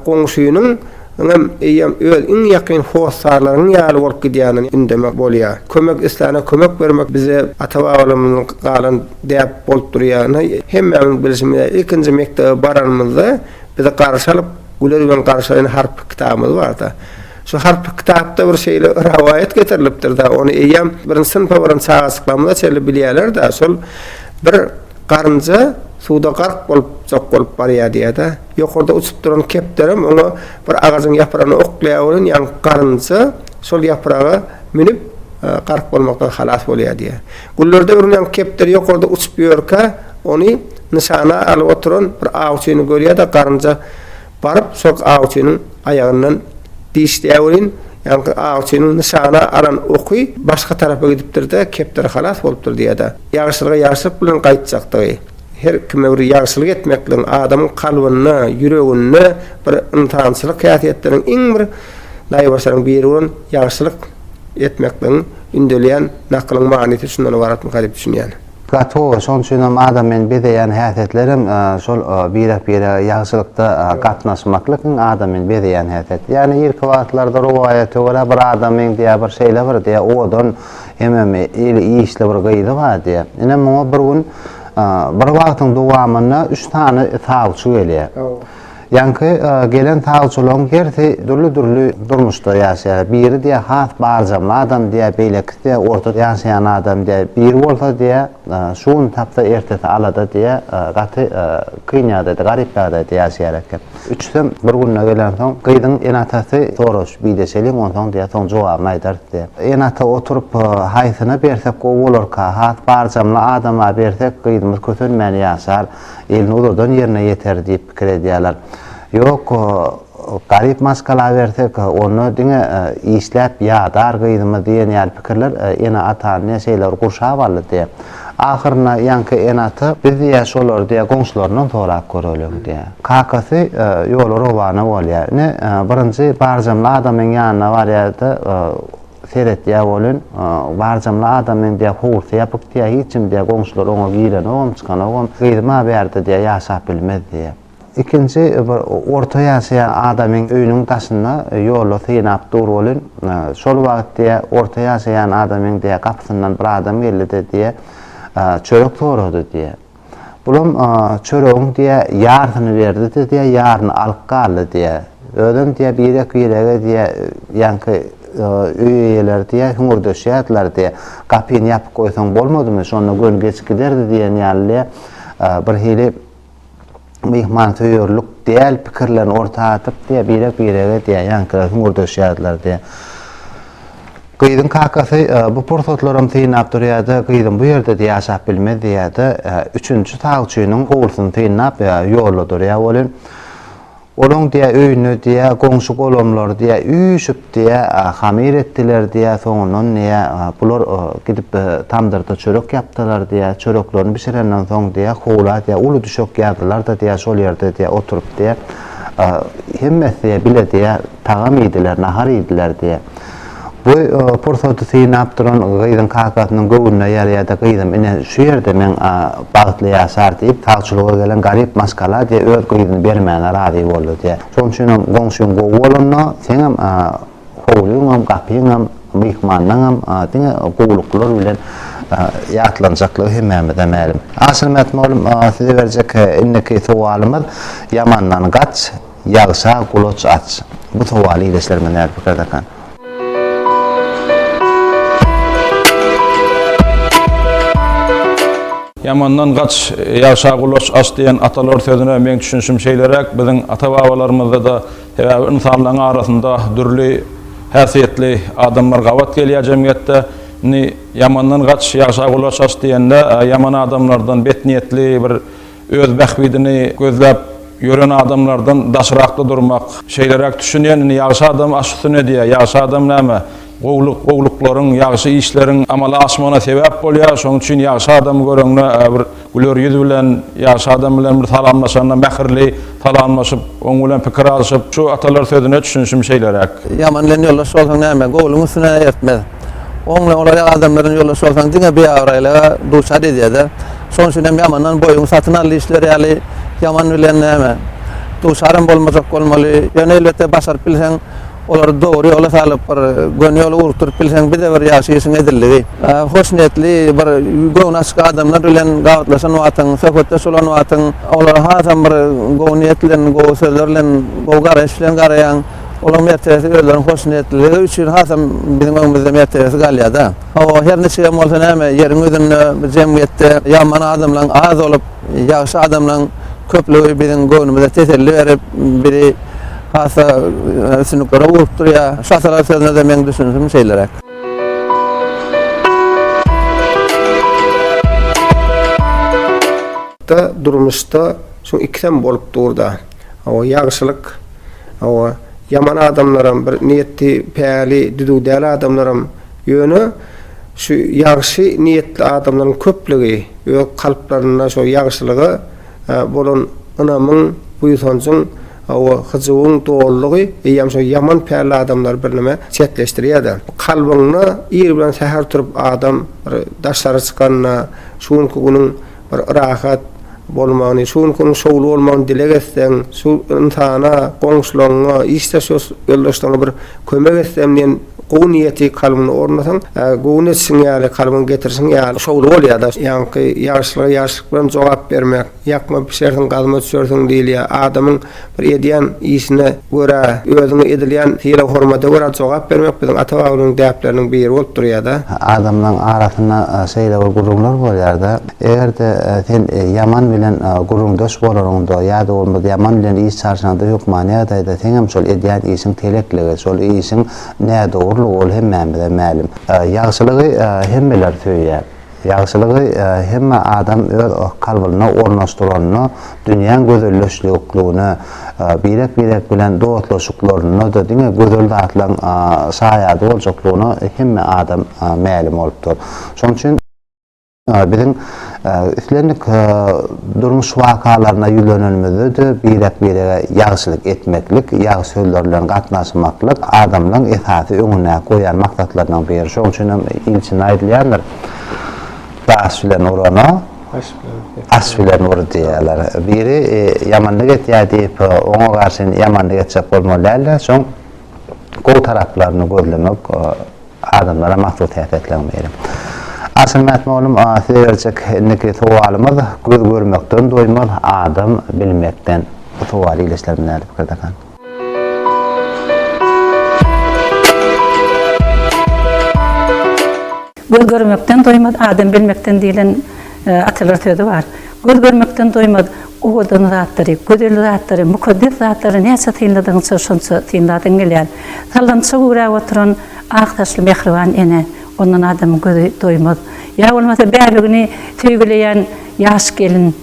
goňşynyň Ynam, eýýäm öz iň ýakyn hossarlaryňyň ýaly bolup gidýänini ündeme bolýar. Kömek isläne kömek bermek bize ata-babalarymyzdan galan däp bolup durýar. Ynha, hemmämiziň bilşimiz ýaly, ilkinji mekdebe baranymyzda bizi garşy alyp, güler bilen garşylaýan harply kitabymyz bardy. Şu harply kitapda bir şeýle rowaýat getirilipdir-de, ony eýýäm birinji synpa baran çagajyklarymyza çenli bilýärler-de, şol bir garynja suwda gark bolup, jok bolup barýar diýýär-de. Ýokarda uçup duran kepderem oňa bir agajyň ýapragyny oklaýar welin, ýaňky garynja şol ýapraga münüp, gark bolmakdan halas bolýar diýýär. Güllerde bürünýän kepder ýokarda uçup ýörkä, ony nyşana alyp oturan bir awçyny görýär-de, garynja baryp, şol awçynyň aýagyndan dişleýär welin, ýaňky awçynyň nyşana alan oky başga tarapa gidipdir-de, kepder halas bolupdyr diýýär-de, ýagşylyga ýagşylyk bilen gaýtjakdygy. Her kime bir ýagşylyk etmekligiň adamyň kalbynda, ýüreginde bir ynsançylyk häsiýetleriniň iň bir naýbaşylaryň biri bolan ýagşylyk etmekligiň ündelýän nakylyň manysy şundan ybaratmyka diýip düşünýän. Gato, şoň üçin hem adam meni bezeýän häsiýetler hem şol birek-birege ýagşylykda gatnaşmaklyk iň adam meni bezeýän häsiýet. Ýagny irki wagtlarda rowaýata görä bir adam meňzeýär bir şeýle bir diýýär owadan, Hemem eli işli bir gyzy bar diýýär. Ine muňa bir gün bir wagtyň dowamynda üç sany sawçy gelýär. Ýaňky gelen sawçylaryň hersi dürli-dürli durmuşda ýaşaýar. Biri diýýär has barjamly adam diýýär, beýlekisi diýýär orta ýaşaýan adam diýýär. Biri bolsa diýýär, Şu gün tapsa ertesi alada diýä gaty kyn ýagdaýda garyp ýagdaýda ýaşaýar eken. Üçüsem bir günde gelensoň gyzyň ene atasy soraş bide çeliň onsoň diýä soň jogabyny aýdarys diýä. Ene ata oturyp haýsyna bersek gowy bolarka has barjamly adama bersek gyzymyz kösenmän ýaşar elini uzadan ýerine ýeter diýip pikir edýäler. Ýok Garyp maşgalaberse-ka, onda diňe işläp ýadar gyzymyz diýen ýaly pikirler ene-atany diýä şeýle bir gurşap aldy diýä. Ahyrynda ýaňky ene-ata, Biz diýä şolary diýä goňşularyndan sorap göreliň diýä. Kakasy ýola rowana bolýa. Ine, birinji barjamly adamyň ýanyna barýa-da, seretýä welin, barjamly adamyň diýä howlusy ýapyk diýä, hiç kim diýä goňşular oňa girenogam, çykanogam. Gyzym-a bärde diýä ýaşap bilmez diýä. Ikinji bir orta ýaşaýan adamyň öýüniň daşynda ýoly synap dur welin, şol wagt diýýär, orta ýaşaýan adamyň diýýär, gapysyndan bir adam geldi-de diýýär, çörek sorady diýýär. Bulam çöregiň diýýär, ýarsyny berdi-de diýýär, ýaryny alyp galdy diýýär. Özem diýýär, birek-birege diýýär, ýaňky öý eýeleri diýýär, hüňürdeşýärdiler diýýär, gapyny ýapyp goýsaň bolmadymy, şonda göni geç giderdi diýen ýaly diýýär, birhili myhmansöýerlik däl pikirlerini orta atyp diýýär, birek-birege diýýär, ýaňkylar hüňürdeşýärdiler diýýär. Gyzyň kakasy e, bu pursatlaram synlap durýar-da, gyzym bu ýerde diýýär, ýaşap bilmez diýýär-de, e, üçünji sawçynyň howlusyny synlap e, ýolda durýar welin, Olaň diýä öýüne diýä goňşy golamlar diýä üýşüp diýä hamyr etdiler diýä soňundan diýä bular gidip tamdyrda çörek ýapdylar diýä çöreklerini bişirenden soň diýä howla diýä uly düşek ýazdylar da diýä şol ýerde diýä oturyp diýä hemmesi diýä bile diýä tagam iýdiler nahar iýdiler diýä. Bu pursady synap duran gyzyň kakasynyň göwnüne ýarýar-da, Gyzym, ine, şu ýerde meň bagtly ýaşar diýip, sagçylyga gelen garyp maşgala diýe öz gyzyny bermäne razy boldy diýe. Şonuň üçinem goňşyň gowy bolanda, seňem howlyňam, gapyňam, myhmanlaňam diňe gowulyklar bilen ýatlanjaklygy hemmämize mälim. Aşyrmätmogulym, size berjek indiki sowalymyz, Ýamandan gaç, Ýagşa gulaç aç. Bu sowaly işleşlerime nädip pikir dakan? Ýamandan gaç, ýagşa gulaç aç diýen atalar sözüne meň düşünişim şeýleräk, biziň ata-babalarymyzda-da sebäbi ynsanlaryň arasynda dürli häsiýetli adamlar gabat gelýär jemgyýetde. Indi ýamandan gaç, ýagşa gulaç aç diýende ýaman adamlardan, betniýetli bir Öz bähbidini gözläp ýören adamlardan daşrakda durmak, şeýleräk düşünýän, indi ýagşy adam aş üstüne edýär, ýagşy adam näme, gowulyk, gowulyklaryň, ýagşy işleriň amala aşmagyna sebäp bolýar, şonuň üçin ýagşy adamy göreňde bir güler ýüz bilen, ýagşy adam bilen bir salamlaşanda mähirli salamlaşyp, oň bilen pikir alşyp, şu atalar sözüne düşünişim şeýleräk. Ýaman bilen ýoldaş bolsaň näme, gowulygyň üstüne ertmez. Oň bilen olaryýak adamlar bilen ýoldaş bolsaň diňe biabraýlyga duçar edýär-de. Şonuň üçin hem ýamandan boýuňy satyn al diýişleri ýaly, ýaman bilen näme, duşaram bolmajak bolmaly. Ýöne elbetde başaryp bilseň, olary dogry ýola salyp, bir göni ýola ugrukdyryp bilseň, bir-de bir ýagşy işiň edildigi. Hoşniýetli, bir göwni açyk adamlar bilen gabatlaşan wagtyň, söhbetdeş bolan wagtyň, olara hasam bir gowy niýet bilen, gowy sözler bilen, gowy garaýyş bilen garaýaň. Olaryň mertebesi özleriniň hoşniýetliligi üçin hasam biziň öňümizde mertebesi galýar-da. Hawa, her niçigem bolsa näme, ýeriň ýüzünde, bu jemgyýetde ýaman adamlaryň az bolup, ýagşy adamlaryň köplügi biziň göwnümize teselli berip, bizi has-da üstünliklere urup durýar. Şasalar sözüne-de meň düşünişim şeýleräk. Da, durmuşda şu ikisem bolup dur-da. Hawa, ýagşylyk, hawa, ýaman adamlaram, bir niýeti päli, düzüw däl adamlaram Ýöne şu ýagşy niýetli adamlaryň köplügi öz kalplarynda şo ýagşylyga bolan ynamyň, buýsanjyň we hyjuwyň dolulygy eýýäm şo ýaman pälli adamlary birneme çetleşdirýär-de. Kalbyňda ir bilen säher turup adam bir daşary çykanda, şu günki günüň rahat bolmagyny, şu günki günüň şowly bolmagyny dileg etseň, şu ynsana, goňşularyňa, işdeş ýoldaşlaryňa bir kömek etsem diýen gowy niýeti kalbyňda ornasaň, göwün etişiň ýaly, kalbyňa getirişiň ýaly şowly bolýar-da. Ýaňky ýagşylyga ýagşylyk bilen jogap bermek, ýakma bişersiň, gazma düşersiň diýilýär. Adamyň. Bir edýän işine görä, özüňe edilýän sylag-hormata görä jogap bermek biziň ata-babamyzyň däpleriniň biri bolup durýar-da. Adamlaryň arasynda şeýle bir gürrüňler bolýar-da, eger-de sen ýaman bilen gürrüňdeş bolanyňda ýa-da bolmasa ýaman bilen iş çalşanyňda hökmany ýagdaýda seň hem şol edýän işiň telekligi, şol işiň nädogrulygy ol hemmämize mälim. Ýagşylygy hemmeler söýýär. Ýagşylygy hemme adam öz kalbyna ornaşdyranda, dünýäň gözelleşlikligine, birek-birek bilen dostlaşyklarynda-da diňe gözel zatlaryň şaýady boljaklygyna hemme adam mälim bolupdyr. Şonuň üçin biziň islendik Durmuş wakalaryna ýüzlenenimizde-de birek-birege ýagşylyk etmeklik, ýagşy sözler bilen gatnaşmaklyk adamlaryň esasy öňüne goýan maksatlarynyň biri. Şoň üçin hem ilçinde aýdylýandyr, Daş bilen urana aş bilen ur diýýärler. Biri ýamanlyk etýär diýip, oňa garşy ýamanlyk etjek bolmaly däl-de, şoň gowy taraplaryny gözlemek, Adamlara mahsus häsiýetleň biri. Aşyr Mätmollum size berjek indiki sowalymyz Göz görmekden doýmaz, adam bilmekden. Bu sowaly ile işlerimiz nädip pikirdekan? Göz görmekden doýmaz, adam bilmekden diýlen. Atalar sözi bar, Göz görmekden doýmaz, owadan zatlary, gözel zatlary, mukaddes zatlary näçe synladygyňça şonça synlasyň gelýär. Sallançak üwräp oturan ak saçly mähriban ene, ondan adamyň gözi doýmaz. Ýa bolmasa bäbegini söýgüleýän ýaş gelin,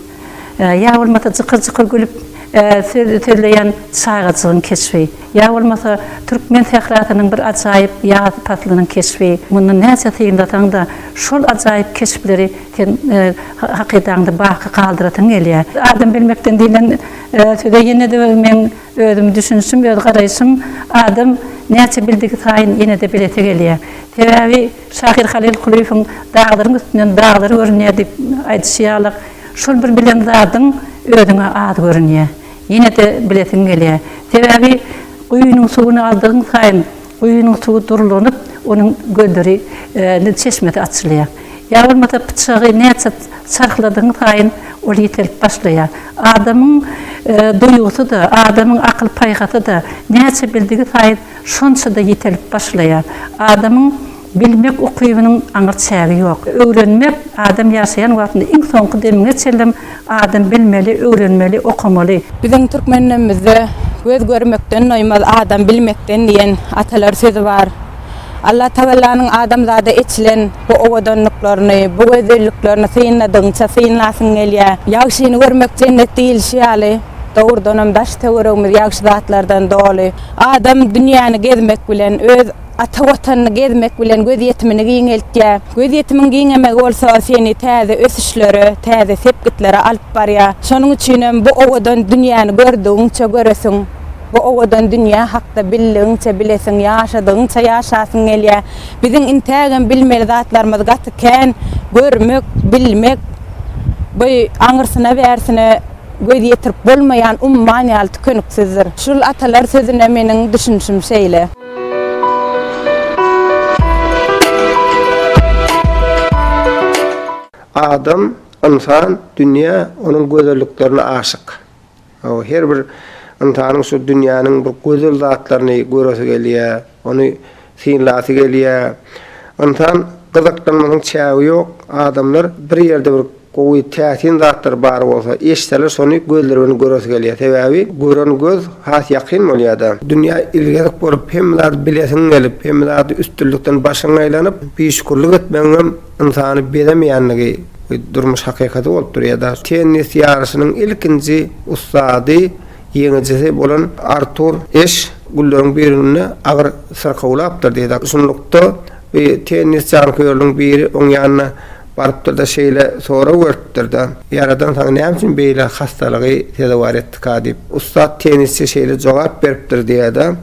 ýa bolmasa jykyr-jykyr gülüp söz sözleýän çagajygyň keşbi. Ýa bolmasa, türkmen sährasynyň bir ajaýyp ýaz paslynyň keşbi. Mundan näçe synlasaň-da, şol ajaýyp keşpleri sen hakydaňda baky galdyrasyň gelýär. Adam bilmekden diýlen söze ýene-de meň özüm düşünişim, öz garaýşym, adam näçe bildigi saýyn ýene-de bilesi gelýär. Sebäbi şahyr Halyl Kulyýewiň Daglaryň üstünden daglar görünýär diýip aýdyşy ýaly, şol bir bilen zadyň özüňe az görünýär. Ýene-de bilesiň gelýär. Sebäbi guýynyň suwuny aldygyň saýyn guýynyň suwy durlanyp, onuň gözleri, çeşmesi açylýar. Ýa bolmasa pyçagy näçe çarhladygyň saýyn ol ýitelip başlaýar. Adamyň duýgusy-da, adamyň akyl-paýhasy-da näçe bildigi saýyn şonça-da ýitelip başlaýar. Adamyň. Bilmek ukybynyň aňyr çägi ýok. Öwrenmek, adam ýaşaýan wagtynda iň soňky demiňe çenlem adam bilmeli, öwrenmeli, okamaly. Biziň türkmen dönemimizde Göz görmekden doýmaz, adam bilmekden diýen atalar sözi bar. Allatagallanyň adamzada eçilen bu owadanlyklaryny, bu gözelliklerini synladygyňça synlasyň gelýär. Ýagşyny görmek jennet diýilişi ýaly, dogrudanam daş-töweregimiz ýagşy zatlardan doly. Adam dünýäni gezmek bilen, öz. Ata Watanyny gezmek bilen gözýetimini giňeltýär. Gözýetimiň giňemegi bolsa seni täze ösüşlere, täze sepgitlere alyp barýar. Şonuň üçinem bu owadan dünýäni gördügiňçe göresiň, bu owadan dünýä hakda bildigiňçe bilesiň, ýaşadygyňça ýaşasyň gelýär. Biziň intägem bilmeli zatlarymyz gaty kän. Görmek, bilmek bu aňyrsyna-bärsine göz ýetirip bolmaýan umman ýaly tükeniksizdir. Şul atalar sözüne meniň düşünişim şeýle. Adam, ynsan, dünýä, onuň gözelliklerine aşyk. Her bir ynsanyň şu dünýäniň bir gözel zatlaryny göresi gelýär, ony synlasy gelýär. Ynsan gyzyklanmasynyň çägi ýok. Adamlar bir ýerde bir Gowy täsin zatlar bar bolsa eşitseler şony gözleri bilen göresi gelýär sebäbi gören göz has ýakyn bolýada. Dünýä ilgezik bolup hemme zady bilesiň gelip hemme zady üstünlikden başyň aýlanyp biüşkürlik etmegiňem ynsany bezemeýänligi we durmuş hakykaty bolup durýada. Tennis ýaryşynyň ilkinji ussady ýeňijisi bolan Artur Eş gülleriň birinde agyr syrkawlapdyr diýdi. Şunlukda Bir tennis janköýeriniň biri oň ýanyna barypdyr-da, şeýle sorag beripdir-de, Ýaradan saňa näme üçin beýle hassalygy sezewar etdika? diýip. Ussat tennisçi şeýle jogap beripdir diýýär-de,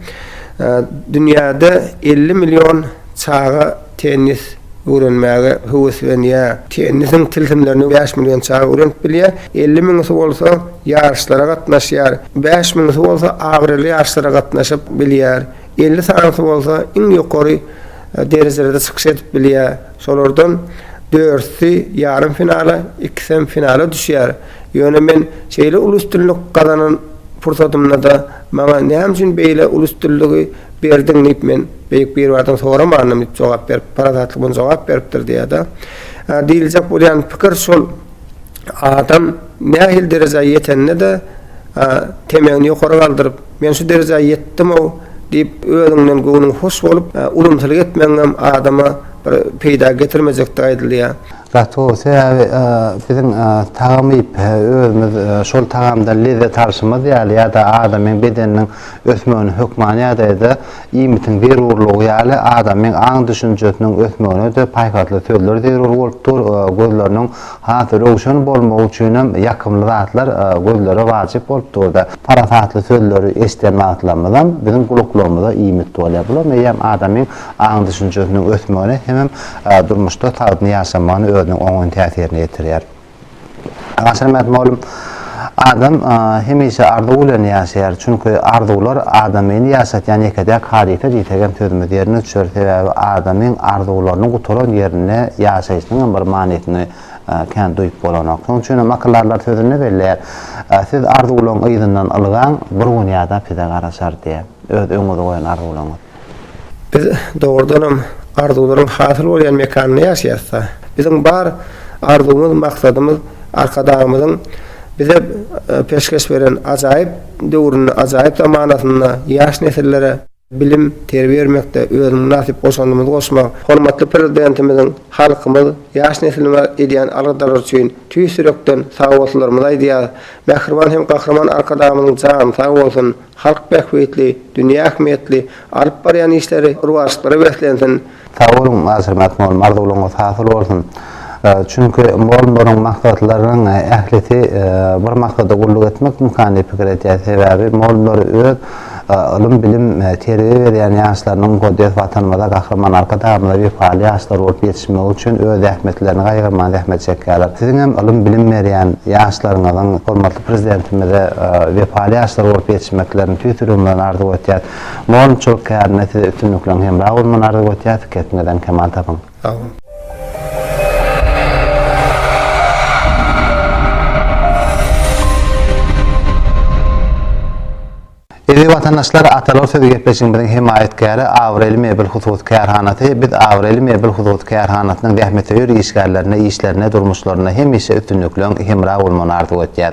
Dünýäde elli million çaga tennis öwrenmäge höweslenýär. Tennisiň tilsimlerini bäş million çaga öwrenip bilýär. Elli müňüsi bolsa ýaryşlara gatnaşýar. Bäş müňüsi bolsa abraýly ýaryşlara gatnaşyp bilýär. Elli sanysy bolsa iň ýokary derejelerde çykyş edip bilýär. Şolardan dörtüsi ýarym finala, ikisem finala düşýär. Ýöne men şeýle uly üstünlik gazanan pursatymda-da maňa näme üçin beýle uly üstünligi berdiň diýip men Beýik Biribardan soramandym diýip jogap berip, parasatly muny jogap beripdir diýýär-de. Diýiljek bolýan pikir şol, adam nähili derejä ýetende-de temegini ýokary galdyryp, Men şu derejä ýetdim-ow diýip, özüňden göwnüň hoş bolup, ulumsylyk etmegiňem adama bir peýda getirmejekdigi aýdylýar. Gaty gowy, sebäbi biziň tagam iýip, özümiz şol tagamdan lezzet alşymyz ýaly ýa-da adamyň bedeniniň ösmegine hökman ýagdaýda iýmitiň zerurlygy ýaly adamyň aň-düşünjesiniň ösmegine-de paýhasly sözler zerur bolup dur, gözleriniň Has röwşen bolmagy üçinem ýakymly zatlar gözlere wajyp bolup dur-da. Parasatly sözleri eşiden wagtlarymyzam biziň gulaklarymyza iýmit bolýar. Bular eýýäm adamyň aň-düşünjesiniň ösmegine hemem durmuşda sagdyn ýaşamagyna özüniň oňyn täsirini ýetirýär. Aşyrmät mugallym Adam hemişe arzuw bilen ýaşaýar, çünki arzuwlar adamyny ýaşatýan ýeke-täk hadysa diýsek hem sözümiz ýerine düşer, sebäbi adamyň arzuwlarynyň gutaran ýerinde ýaşaýşynyň hem bir manysyny kän duýup bolanok. Şonuň üçin hem akyldarlar sözünde belleýär, Siz arzuwlaryň yzyndan ylgaň, bir gün ýadap size garaşar diýýär, öz öňüňize goýan arzuwlaryňyz. Biz dogrudanam arzuwlaryň hasyl bolýan mekanynda ýaşaýarys-da. Biziň bar arzuwymyz, maksadymyz Arkadagymyzyň bize peşgeş beren ajaýyp döwründe, ajaýyp zamanasynda ýaş nesillere bilim, terbiýe bermekde öz mynasyp goşandymyzy goşmak, hormatly Prezidentimiziň halkymyz, ýaş neslimize edýän aladalar üçin tüýs ýürekden sagbolsunlarymyzy aýdýarys. Mähriban hem Gahryman Arkadagymyzyň jany sag bolsun! Halk bähbitli, dünýä ähmiýetli alyp barýan işleri rowaçlyklara beslensin! Sag boluň Aşyrmak mol arzuwlaryňyz hasyl bolsun çünki mol moluň maksatlarynyň ählisi bir maksada gulluk etmek imkany pikir etýär sebäbi mol muly öz ylym bilim terbiýe berýän ýaşlarynyň mukaddes watanymyza gahryman arkadagymyza wepaly ýaşlar bolup ýetişmegi üçin öz zähmetlerini gaýgyrman zähmet çekýärler siziňem ylym bilim berýän ýaşlaryňyzyň hormatly Prezidentimize wepaly ýaşlar bolup ýetişmeklerini tüýs ýüregim bilen arzuw etýän. Mugallymçylyk kärinde size üstünlikleň hemra bolmagyny arzuw etýäs. Pikiriňizden kemal tapyň. Sag boluň. Eziz watandaşlar, Atalar sözi gepleşigimiziň hemaýatkäri Abraýly mebel hususy kärhanasy, biz Abraýly mebel hususy kärhanasynyň zähmetsöýer işgärlerine işlerinde, durmuşlarynda hemişe üstünlikleň hemra bolmagyny arzuw etýäs.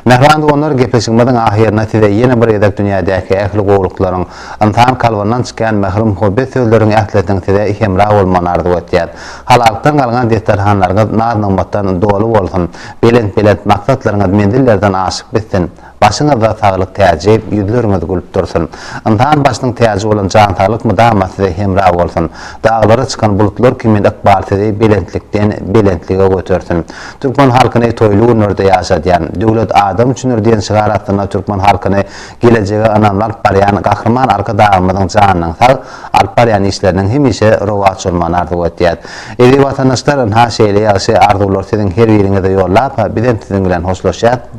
Mähriban doganlar, gepleşigimiziň ahyrynda size ýene bir gezek dünýädäki ähli gowulyklaryň, ynsan kalbyndan çykýan mähir-muhabbet sözleriň ählisiniň size hemra bolmagyny arzuw etýäs. Halalykdan galňan desterhanlaryňyz naz-nygmatdan doly bolsun, belent-belent maksatlaryňyz menzillerden aşyp bitsin! Başyňyzda saglyk täji, ýüzleriňiz gülüp dursun. Ynsan başynyň täji bolan jan saglyk mydama size hemra bolsun. Daglara çykan bulutlar kimin ykbal sizi belentlikden belentlige götersin. Türkmen halkyny toýly günlerde ýaşadýan, Döwlet adam üçindir diýen şygar astynda türkmen halkyny gelejege ynamly alyp barýan Gahryman Arkadagymyzyň janynyň sag, alyp barýan işleriniň hemişe rowaç bolmagyny arzuw etýäs. Eziz watandaşlar, ynha şeýle ýagşy arzuwlary siziň her biriňize ýollap, bizem siziň bilen hoşlaşýas.